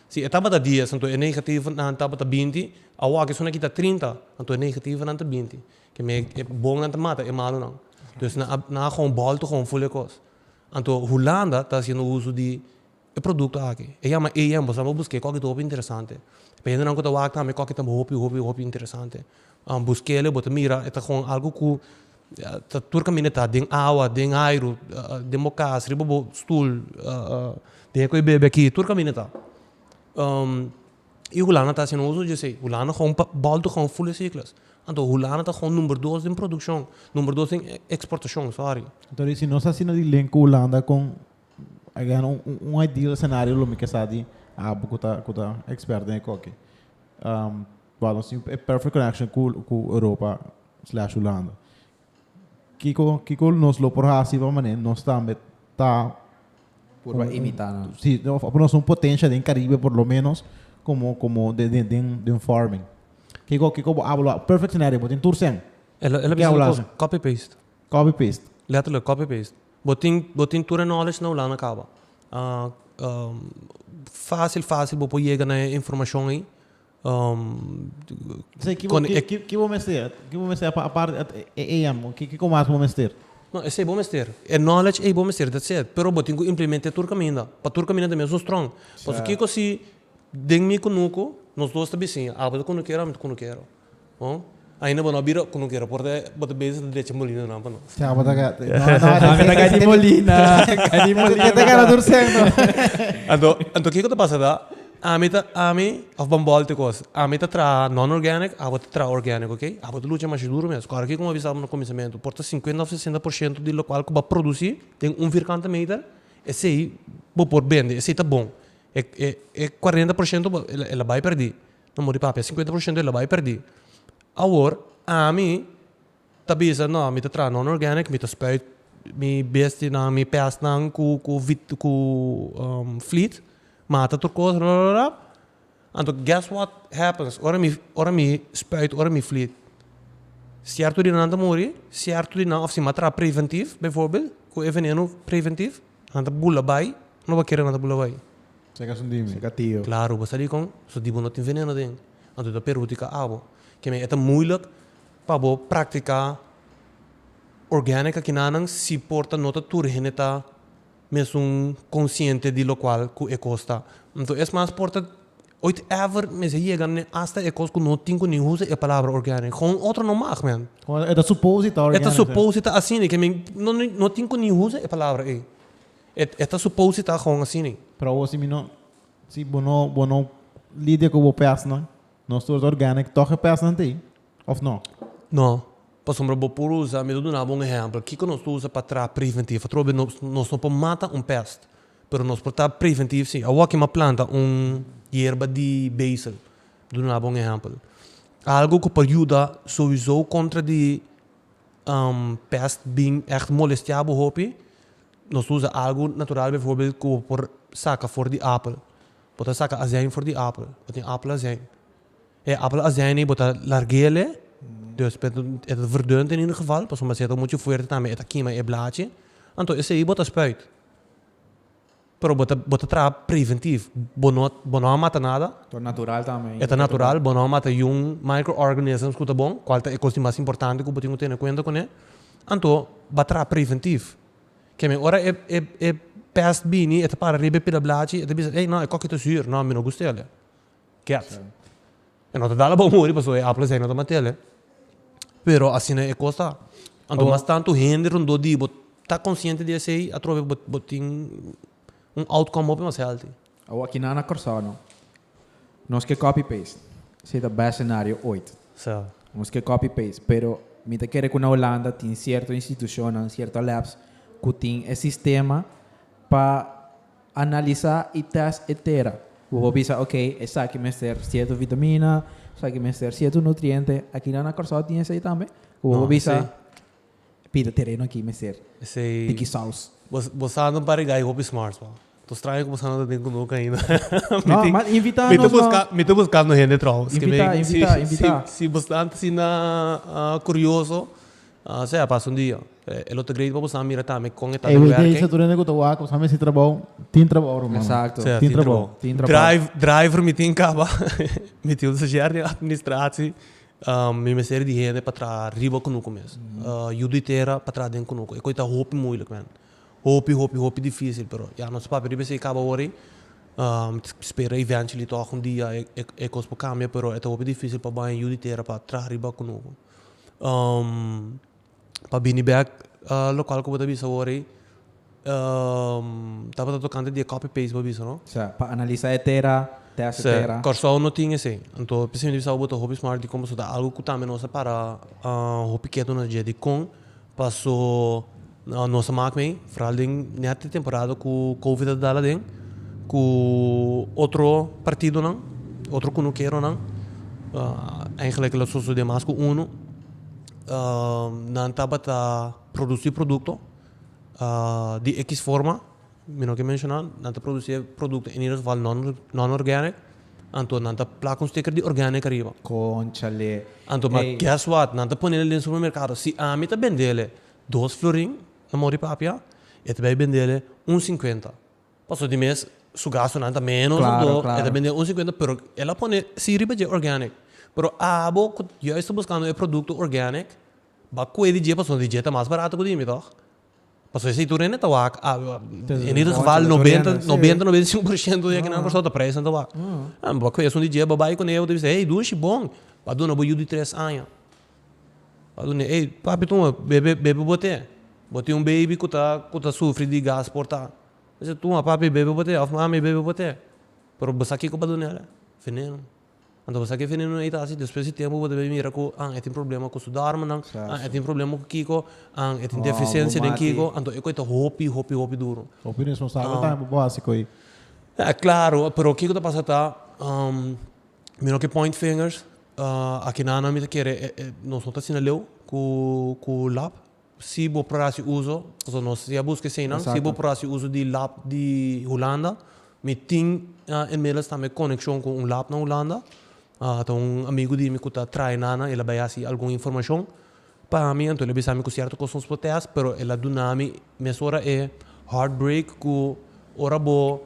Speaker 1: Si e tabata dies, anto e negativonan tabata binti, awor esun aki ta trinta, anto e negativonan ta binti. Keme e bonnan ta mata e malonan. Entonces nan a nan a gou bolto gou ful e cos. Anto Hulanda ta haciendo uso di e producto aki. E yama EM. Bo sal bo busque coki ta hopi interesante. Pa hendenan cu ta wak tambe coki ta hopi hopi hopi interesante. Busquele, bo ta mira e ta gou algo cu Tur kaminda ta den awa, den airu, den bo kas, riba bo stul, den e koe bebe aki, tur kaminda ta. I hulanda ta asin oso dje esei, hulanda gou bòl tok gou ful esikles, anto hulanda ta gou number dos den produkshon, number dos den eksportashon, sòri. Anto rei si nos ta asina
Speaker 2: di link ku hulanda kon a gana un ideal senario lo mi ke sa di Abu ku ta ekspert den e koki. Wel, nos tin e perfect connection cu cu Europa slash Hulanda. Kico kico nos lo por haci pa mane nos tambe ta Por
Speaker 3: un- a un- imita nan. si of of nos un
Speaker 2: potencia den Caribe por lo menos como como den den den den farming. Kico kico bo habla lo perfect scenario bo tin tur cen, El a el a Ke bisa lo habla
Speaker 1: cos así?
Speaker 2: copy paste.
Speaker 1: copy paste.
Speaker 2: Letterlijk copy paste.
Speaker 1: Bo tin bo tin tur e knowledge na Hulanda caba. facil facil bo por yega na e informacion ey. P'esei,
Speaker 2: ki bo ki bo mester? Ki bo mester aparte at e AM? Kiko mas bo mester? No, esei bo mester.
Speaker 1: E knowledge ei bo mester, that's it. Pero bo tin ku implement'é tur kaminda. Pa tur kaminda tambe nos un strong. Pasobra kiko si den mi ku Nuku, nos dos ta bisiña, abo ta kunuker, abo no ta kunuker. Bon, ainda bo no a bira ok ku no kere por bo ta bezi ta decha molina nan pa nos. Cha bo ta gata.
Speaker 2: No no. Ka di
Speaker 3: molina. Ka di molina. Kende kara tur seng no.
Speaker 2: Anto
Speaker 1: anto kiko ta pasa ta ami ta ami of ban bòlte kos ami ta traha non organic abo ta traha organic ok abo ta lucha masha duru mes kòrda kiko mi a bisa bo na kuminsamentu por ta sinkuenta of sesenta por shento di lokual ku bo a produsi den un vierkante meter esei bo por bende esei ta bon e e e kuarenta por shento bo el a bai pèrdí Amor di pape, sinkuenta por shento e lo bai perdi. Awor ami ta bisa no mi ta traha non organic, mi ta spuit mi bestinan, mi pestnan ku ku ku fleet, mata tur kos rororora, anto guess what happens ora mi ora mi spuit ora mi fleet, sierto di nan ta muri, sierto di nan of si mi a traha preventiv, befòrbild ku e veneno preventiv, nan ta bula bai, no bo kere nan ta bula bai. Seca su dimi.
Speaker 2: Seca tio. Claro, bo sabi
Speaker 3: con
Speaker 1: su dibu no tin veneno den, anto ta perhudica abo. Kemey e ta moeilijk pa bo practica organic akinanan si por ta no ta tur hende ta mesun consciente di locual cu e cos ta. Anto es mas por ta ooit ever mester yega ne hasta e cos cu no tin cu ni usa e palabra organic. Gewoon otro no mag man. Gewoon e ta suppose
Speaker 2: ta organic. E ta suppose
Speaker 1: ta asina, kemey no tin cu ni usa e palabra ey. E ta supose ta agon asini. Pero awor si mi no,
Speaker 2: si bo no, bo no lidia cu bo pesnan, no source organic, toch e pesnan ta ahi, of no? No,
Speaker 1: pasobra bo por usa, mi ta duna bo un ehempel, kico nos ta usa pa traha preventief? Atrobe bes nos, nos no por mata un pest, pero nos por traha preventief si. Awor aki mi a planta un yerba di basil, mi ta duna bo un ehempel, algo cu por yuda souizo contra di pest bin echt molestia bo hopi, Nos ta usa algu natural bivoorbeeld ku bo por saka for di apel. Bo ta saka azèn for di apel, bo tin apel azèn. E apel azèn ei bo ta larguele, dus e ta verdùnt in ieder geval pasobra si e ta muchu fuerte tambe e ta kima e blachi, anto esei bo ta spuit. Pero bo ta bo ta traha preventief, bo no bo no a mata nada,
Speaker 3: e ta natural, bo no a
Speaker 1: mata yun microorganisms ku ta bon, kual ta e kos di mas importante ku bo tin ku tene kuenta kuné. Anto ba traha preventiv. Ke men ora e pest bini e ta para riba e pida blachi e ta bisa ey no e kokkie ta sur no mi no gusta ele kiet e no ta dala bo muri pasobra e apple esey no ta matele pero asina e kos ta anto mas tanto hende rondó di bo ta konsiente di esey atrobe bo tin un outcome hopi mas healthy. Awaki nan na
Speaker 3: Corsao no. Nos ke copy paste. Esei ta best scenario ooit. Sa. Nos ke
Speaker 1: copy paste
Speaker 3: pero mi ta kere ku na Holanda tin cierto institucionnan, cierto labs ku tin e sistema pa analisa i test e tera. Bo por bisa ok esaki mester cierto vitamina, esaki mester cierto nutriente. Aki nan na Corsao tin esei tambe ku bo por bisa. Pida tereno aki mester tiki saus. Bosa no pariga
Speaker 1: ai hopi smarts pa. To straño ku bosa no ta den ku no kaina. No mas
Speaker 3: invita nos no. Mi ta buskando
Speaker 1: hende trou. Invita invita invita.
Speaker 3: Si bo stant
Speaker 1: asina kurioso sea a pasa un dia. E lo ta great pa bosa mira tambe kon e ta den werken. Everyday saturende ku ta
Speaker 2: wak ku bosa mester trabou tin trabou rumana. Exacto. Sea tin trabou. Drive driver mi tin
Speaker 1: kaba mi tin un soshier den administratie Mi mester di hende pa traha riba ku noku mes. Yu di tera pa traha den ku noku. E kos ei ta hopi muilik, men. Hopi, hopi, hopi difisil. Pero ya nos papia riba esei kaba awor ei. Mi ta spera eventually tòg un dia e kos por kambia, pero e ta hopi difisil pa baña yu di tera pa traha riba ku noku. pa bini bek local cu bo ta bisa awor ey tabata tocante di e copy paste bo a bisa no. Sa pa analisa e tera,
Speaker 3: test e tera. Corsou no tin esey
Speaker 1: anto p'esey mi ta bisa bo bo ta hopi smart di con paso ta algo cu tambe nos a para hopi ketu nos dje dicon paso nos a mak mey foral den net e temporada cu covid a dal aden cu otro partidonan otro cunukeronan eigenlijk lo sosode mas cu unu nan tabata produsí produkto di x forma, mi no ke menshoná, nan ta produsí e produkto en ieder geval non organic, anto nan ta plaka un sticker di organic ariba. Conchale.
Speaker 3: Anto ma guess
Speaker 1: what, nan ta ponel den supermercado, si ami ta bendele dos florin na Mori Papia, e ta bai bendele un cincuenta. Paso di mes su gastonan ta menos dan do e ta bende un sinkuenta
Speaker 3: pero
Speaker 1: el a pone si riba dje organic pero abo ku juist ta buskando e produkto organic ba kue di dje paso di dje ta mas barato ku di mi tog paso esei tur hende ta wak en ieder geval nobenta nobenta i sinku por shento di ekinan Rosotta preisnan ta wak mi ba kue esun di dje ba bai kune bo ta bisa hey Dushi bon ba duna bo yu di tres aña. Ora mi ey papi tuma bebe bebe bo te bo tin un baby cu ta cu ta sufri di gas porta mi si tuma papi bebe bo te of mami bebe bo te pero bo sa kico bo ta dunel eh veneno anta bo sa ki veneno ey ta haci despues di tiempo bo ta mira cu ah e tin problema cu su dorminan ah e tin problema cu kico ah e tin deficiencia den kico anto e cosnan ta hopi hopi hopi duro
Speaker 2: claro
Speaker 1: pero kico ta pasa ta mi no ke point fingers Akinan mi ta kere nos no ta asina leu ku lap si bo por hasi uso pasobra nos a buska esei nan si bo por hasi uso di lap di hulanda mi tin inmiddels tambe konekshon ku un lap na hulanda ta un amigu di mi ku ta traina nan el a bai hasi algun informashon. Pa mi, anto el a bisa mi ku sierto kos nos por test, pero el a duna mi mesora e heartbreak ku ora bo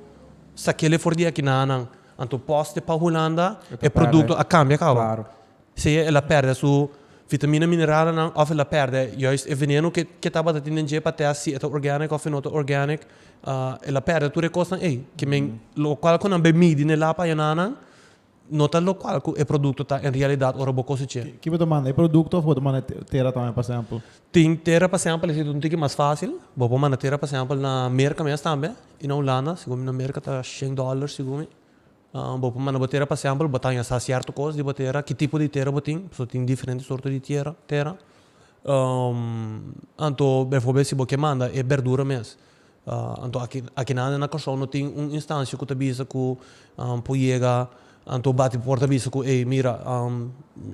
Speaker 1: sa kele for di e kinanan, anto pos di e pa Hulanda e produkto a kambia kaba.
Speaker 3: Sea el a
Speaker 1: pèrdè su vitamina mineralnan òf el a pèrdè juist e veneno ku e tabata tin den dje pa test si e ta organic òf e no ta organic, el a pèrdè tur e kosnan ei, lokual ku nan bai midi n'e lap ayenanan no ta lokual ku e produkto ta en realidat ora bo kosech'é. Ki bo ta manda? E produkto
Speaker 2: òf bo ta manda tera tambe pa sèmpel? Tin tera pa
Speaker 1: sèmpel esei ta un tiki mas fásil. Bo por manda tera pa sèmpel na Merka mes tambe i na Hulanda. Segun mi na Merka ta shen dòler segun mi. Bo por manda bo tera pa sèmpel, bo ta haña sa sierto kos di bo tera, ki tipo di tera bo tin, pasobra tin diferente sorto di tierra, tera. Anto, befòrbel si bo ke manda e bèrdura mes, Anto aki aki nan na Kòrsou no tin un instansha ku ta bisa ku nan por yega anto bati puert a bisa ku ey mira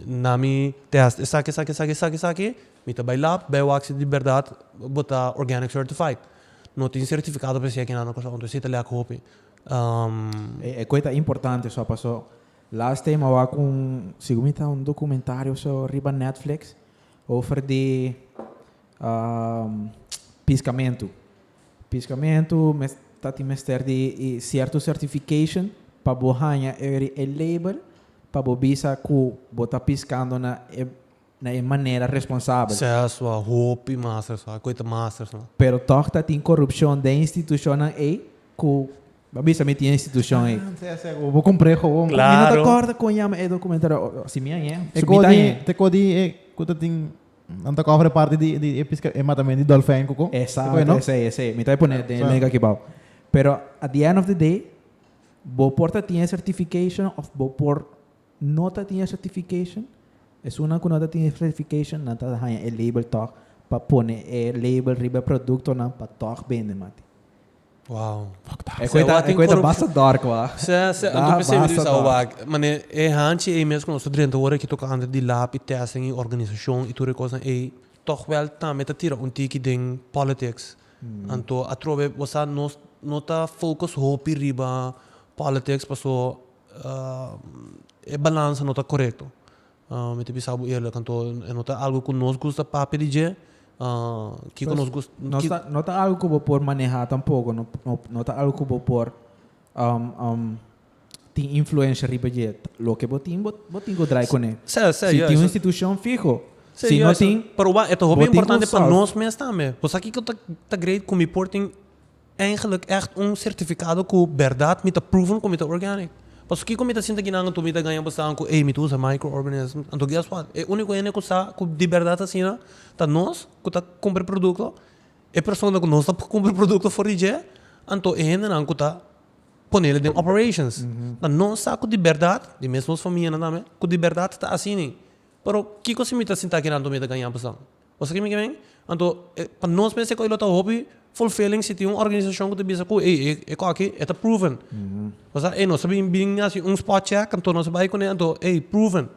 Speaker 1: na mi tèst esaki esaki esaki esaki esaki mi ta bai lab bai wak si di bèrdat bo ta organic certified no tin sertifikado per se aki nan na Kòrsou anto esei ta lèk hopi.
Speaker 3: E kue ta importante so paso last time a wak un si ku mi ta un dokumentario so riba Netflix over di Piscamentu. Piscamentu mes ta tin mester di e cierto certification pa bo haña eri e label pa bo bisa cu bo ta piscando na e na e manera responsabel. Ses wa hopi
Speaker 1: masters wa cu e ta masters no. Pero toch ta tin
Speaker 3: corupcion den institucionnan ey cu bo bisa mi tin e institucion ey. Ah, nsai, nsai, bo cumpre
Speaker 2: gewoon. Mi no ta Claro. corda con
Speaker 1: yama
Speaker 3: e documentario. O, o, si mi a yen, su mi ta Tecodi, yen. tecodi
Speaker 2: e cu ta tin Nan ta kòfre parti di di e piska e matamento di dolfèn ku kon. Esaki, Ku e no? esei, esei.
Speaker 3: Mi ta bai pone den e link aki bou. Pero at the end of the day bo por ta tin e certification of bo por no ta tin e certification. Esunnan ku no ta tin e certification nan ta haña e label tòg pa pone e label riba e produktonan pa tòg bende, mati. Wow.
Speaker 1: E kue
Speaker 3: ta basta dòrk wak. Sè, sè, anto mi sebe
Speaker 1: di bisá bo wak. Mane, e hanchi ei mes ku nos ta drenta ora ki toka antes di lab i tèsten i organisashon i tur e kosnan ei, tòg wèl tambe ta tira un tiki den pòlitiks. Anto atrobe bo sa nos no ta focus hopi riba pòlitiks pasobra e balansa no ta korekto. Mi ta bisa bo eerlijk, kantu e no ta algu ku nos gust ta papia di dje? Kiko nos gust? No ta algu ku
Speaker 3: bo por maneha tampoko, no ta algu ku bo por tin influensha riba dje. Loke bo tin, bo tin ku drai kuné. Si tin un institushon fiho, si no tin. Pero wak, e ta hopi
Speaker 1: importante pa nos mes tambe. Bo sa kiko ta great ku mi por tin? Eigenlik ècht un sertifikado ku bèrdat mi ta proven ku mi ta organic. Paso kiko mi ta sinta kinan anto mi ta gaña basado ku ey mi ta usa microorganisms? Anto guess what? E úniko hende ku sa ku di bèrdat asina ta nos ku ta kumpra e produkto. E persona ku no sta pa kumpra e produkto for di dje, anto e hendenan ku ta ponela den operations. Tan nos sa ku di bèrdat, di mes nos famianan tambe, ku di bèrdat ta asini. Pero kiko si mi ta sinta kinan anto mi ta gaña basado? Bo sa kimi ke men? Anto pa nos mester ku e lo ta hopi fulfilling si tin un organisashon ku ta bisa ku ey e kos aki e ta proven. Pasá ey nos ta bin bin hasi un spot check anto nos a bai kuné anto ey proven.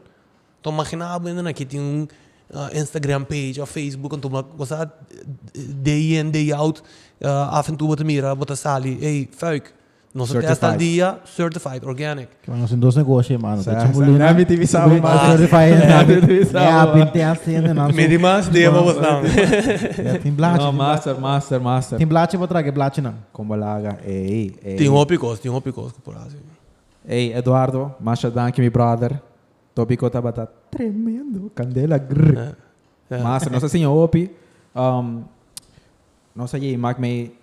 Speaker 1: Anto magina bo hende nan aki tin un Instagram page of Facebook anto bo bo sa day in day out af en tu bo ta mira bo ta sali ey fuik. Nos certified. test al dia, certified organic. Kima nos dos negoshi,
Speaker 2: mano. Sa, sa, nami tibi
Speaker 3: sabo
Speaker 2: mas.
Speaker 3: Certified, nami tibi
Speaker 2: sabo. Ja,
Speaker 3: bin test sende
Speaker 2: nan.
Speaker 3: Medi
Speaker 2: mas, dia pa bos
Speaker 1: nan. Ja, tin
Speaker 2: blachi. No, master, master,
Speaker 3: master. Tin
Speaker 2: blachi pa
Speaker 3: trage, blachi
Speaker 2: nan. Kombo laga, ei, ei.
Speaker 3: Tin hopi kos, tin
Speaker 1: hopi kos ku por hasi. Ei, Eduardo,
Speaker 3: masha danki mi brother. Topiko tabata tremendo, kandela grr. Ja, ja. Master, nos a siña hopi. Um, nos a jei mak mei.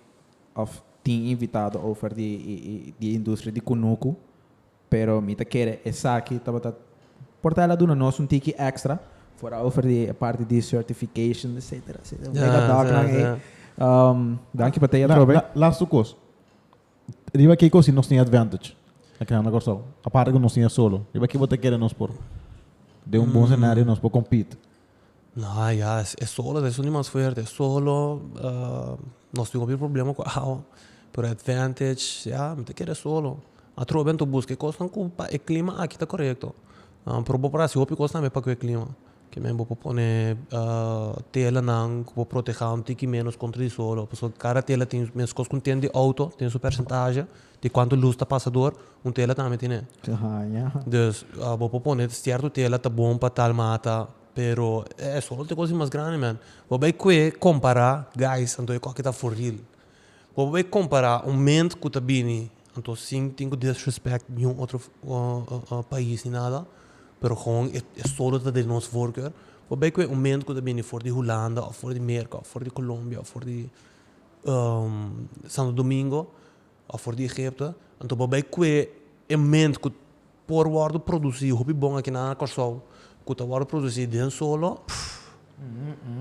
Speaker 3: Of tin invitado over di di industria di kunuku, pero mi ta kere esaki tabata por ta el a duna nos un tiki extra for a over di e parti di certification etcetera etcetera mega Ja, dog ja, nan ei. ja. Um, danki pa tei La, atrobe. la, laatste kos.
Speaker 2: Riba ke kos si nos tin advantage aki nan na Kòrsou? Aparte ku nos tin e solo. Riba ke bo ta kere nos por den un bon senario nos por compete? Nah ya
Speaker 1: e solo ta esun di mas fuerte e solo nos tin hopi problema cu awa pero advantage ya mi ta kere solo atrobe anto busca e cosnan cu pa e clima aki ta corecto pero bo por hasi hopi cos tambe paque clima kimen bo por pone telanan cu por proteha un tiki menos contra e solo pasobra cada tela tin mes cos cu tin den di auto tin su percentahe Di cuanto luz ta pasa door un tela tambe tine. Ta haña. Dus bo por pone cierto tela ta bon pa tal mata pero e sol ta e cosa mas grandi man. Bo bay cue compara guys anto e coki ta foril. Bo por bay compara un ment cu ta bini anto sin tin cu disrespect niun otro pais ni nada pero gewoon e sol lo ta den nos voorkeur. Bo bay cue un ment cu ta bini for di Hulanda of for di Merca of for di Colombia of for di Santo Domingo. Òf for di Egipto, anto bo bai kue e munt ku por wòrdu produsí hopi bon akinan na Kòrsou, ku ta wòrdu produsí den solo, pff,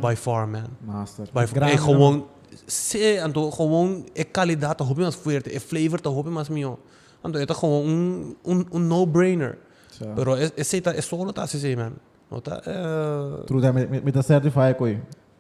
Speaker 1: bai for man. Master. Bai for. E
Speaker 3: gowon,
Speaker 1: sí, anto gowon e kalidat ta hopi mas fuerte, e flavor ta hopi mas mihó. Anto e ta gowon un, un, un no brainer. Sa. Pero e, esei ta, e solo ta asizei, man. No ta, eh. True dat,
Speaker 2: mi, mi, mi ta certify ku ei.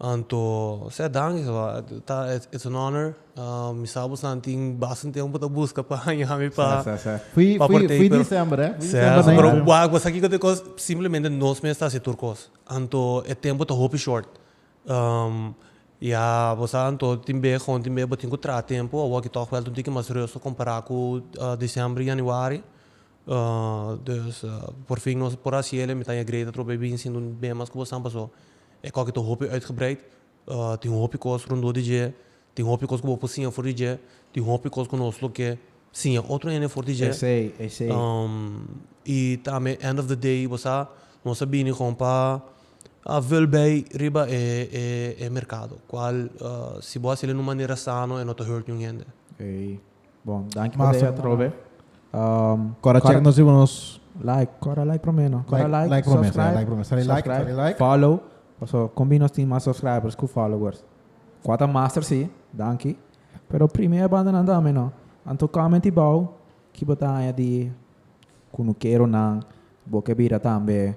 Speaker 1: Anto sea danki sa ba ta it's an honor mi sa bosan tin bastante tempo ta busca pa haña mi pa partey
Speaker 2: pero sea sa pero wak bo
Speaker 1: sa kiko ta e cos simplemente nos mes ta haci tur cos anto e tempo ta hopi short ya bo sa anto tin be gon tin be bo tin cu traha tempo awor ki toch wel tin tiki mas rusto compara cu december januari dus por fin nos a por haci el'e mi ta haña great atrobe binsin den bemas cu bo san paso. E kòke ta hopi uitgebreid. Tin hopi kos rondó di dje. Tin hopi kos ku bo por siña for di dje. Tin hopi kos ku nos lo ke siña otro hende for di dje. Esei, esei. I tambe end of the day, bo sa, nos a bini kon pa vul bei riba e merkado, kual si bo hasil e na un manera sano e no ta hurt niun hende.
Speaker 3: Bon, danki pa Masa. dei atrobe. Um,
Speaker 2: Cora check nos ibo nos. Like, cora like
Speaker 3: prome no. Cora like, like prome, subscribe,
Speaker 2: like prome. Sali like, subscribe, sali like. follow.
Speaker 3: Paso combi nos tin mas subscribers cu followers. Cuata master si, danki. Pero prime e banda nan dame no. Anto comment ibao ki bo ta haña di cu no kero nan, bo ke bira tambe.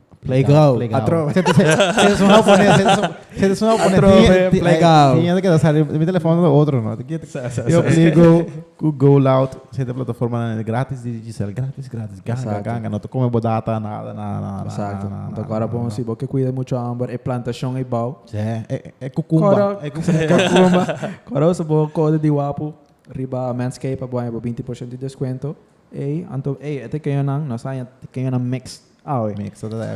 Speaker 2: Playground. Playground. Sento su hau pone, sento su hau pone. Atrobe, playground. Tinha de queda salir, mi telefono do otro, no? Yo pliego, ku go loud, sento plataforma na gratis, di Giselle, gratis, gratis, ganga, ganga, no to come bo data, nada, nada, nada. Exacto. Nada, Agora
Speaker 3: bon, si bo ke cuida mucho amber, e plantacion ei bau. Sí, e, e cucumba.
Speaker 2: E cucumba.
Speaker 3: Coro, so bo code di wapu, riba Manscape, bo aña bo 20% di descuento. Ei, anto, ei, e tekeño nan, nos aña tekeño nan mix. Awe,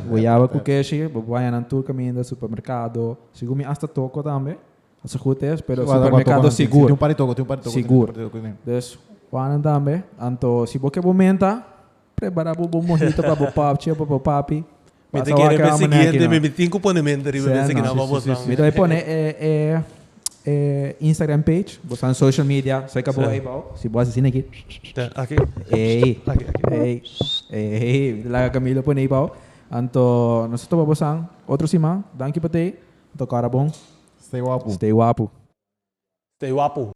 Speaker 2: Guyaba ku
Speaker 3: keshi, bo baya nan tur kaminda supermerkado, segun mi asta toko tambe, a su gut es, pero supermerkado sigur, sigur. Dus wan nan tambe, anto si bo ke bo menta, prepara bo bo mohito pa bo papchi o pa bo papi. Mi
Speaker 1: ta kere mi ta pone e
Speaker 3: e. E Instagram page, bo sta na social media, serka bo ei bou, si bo haci asina aki, ei, ei, ei, laga Camilo pone ei bou, anto nos ta topa bosan otro siman, danki pa tei, anto kora
Speaker 1: bon,
Speaker 3: stay wapu, stay wapu. Stay wapu.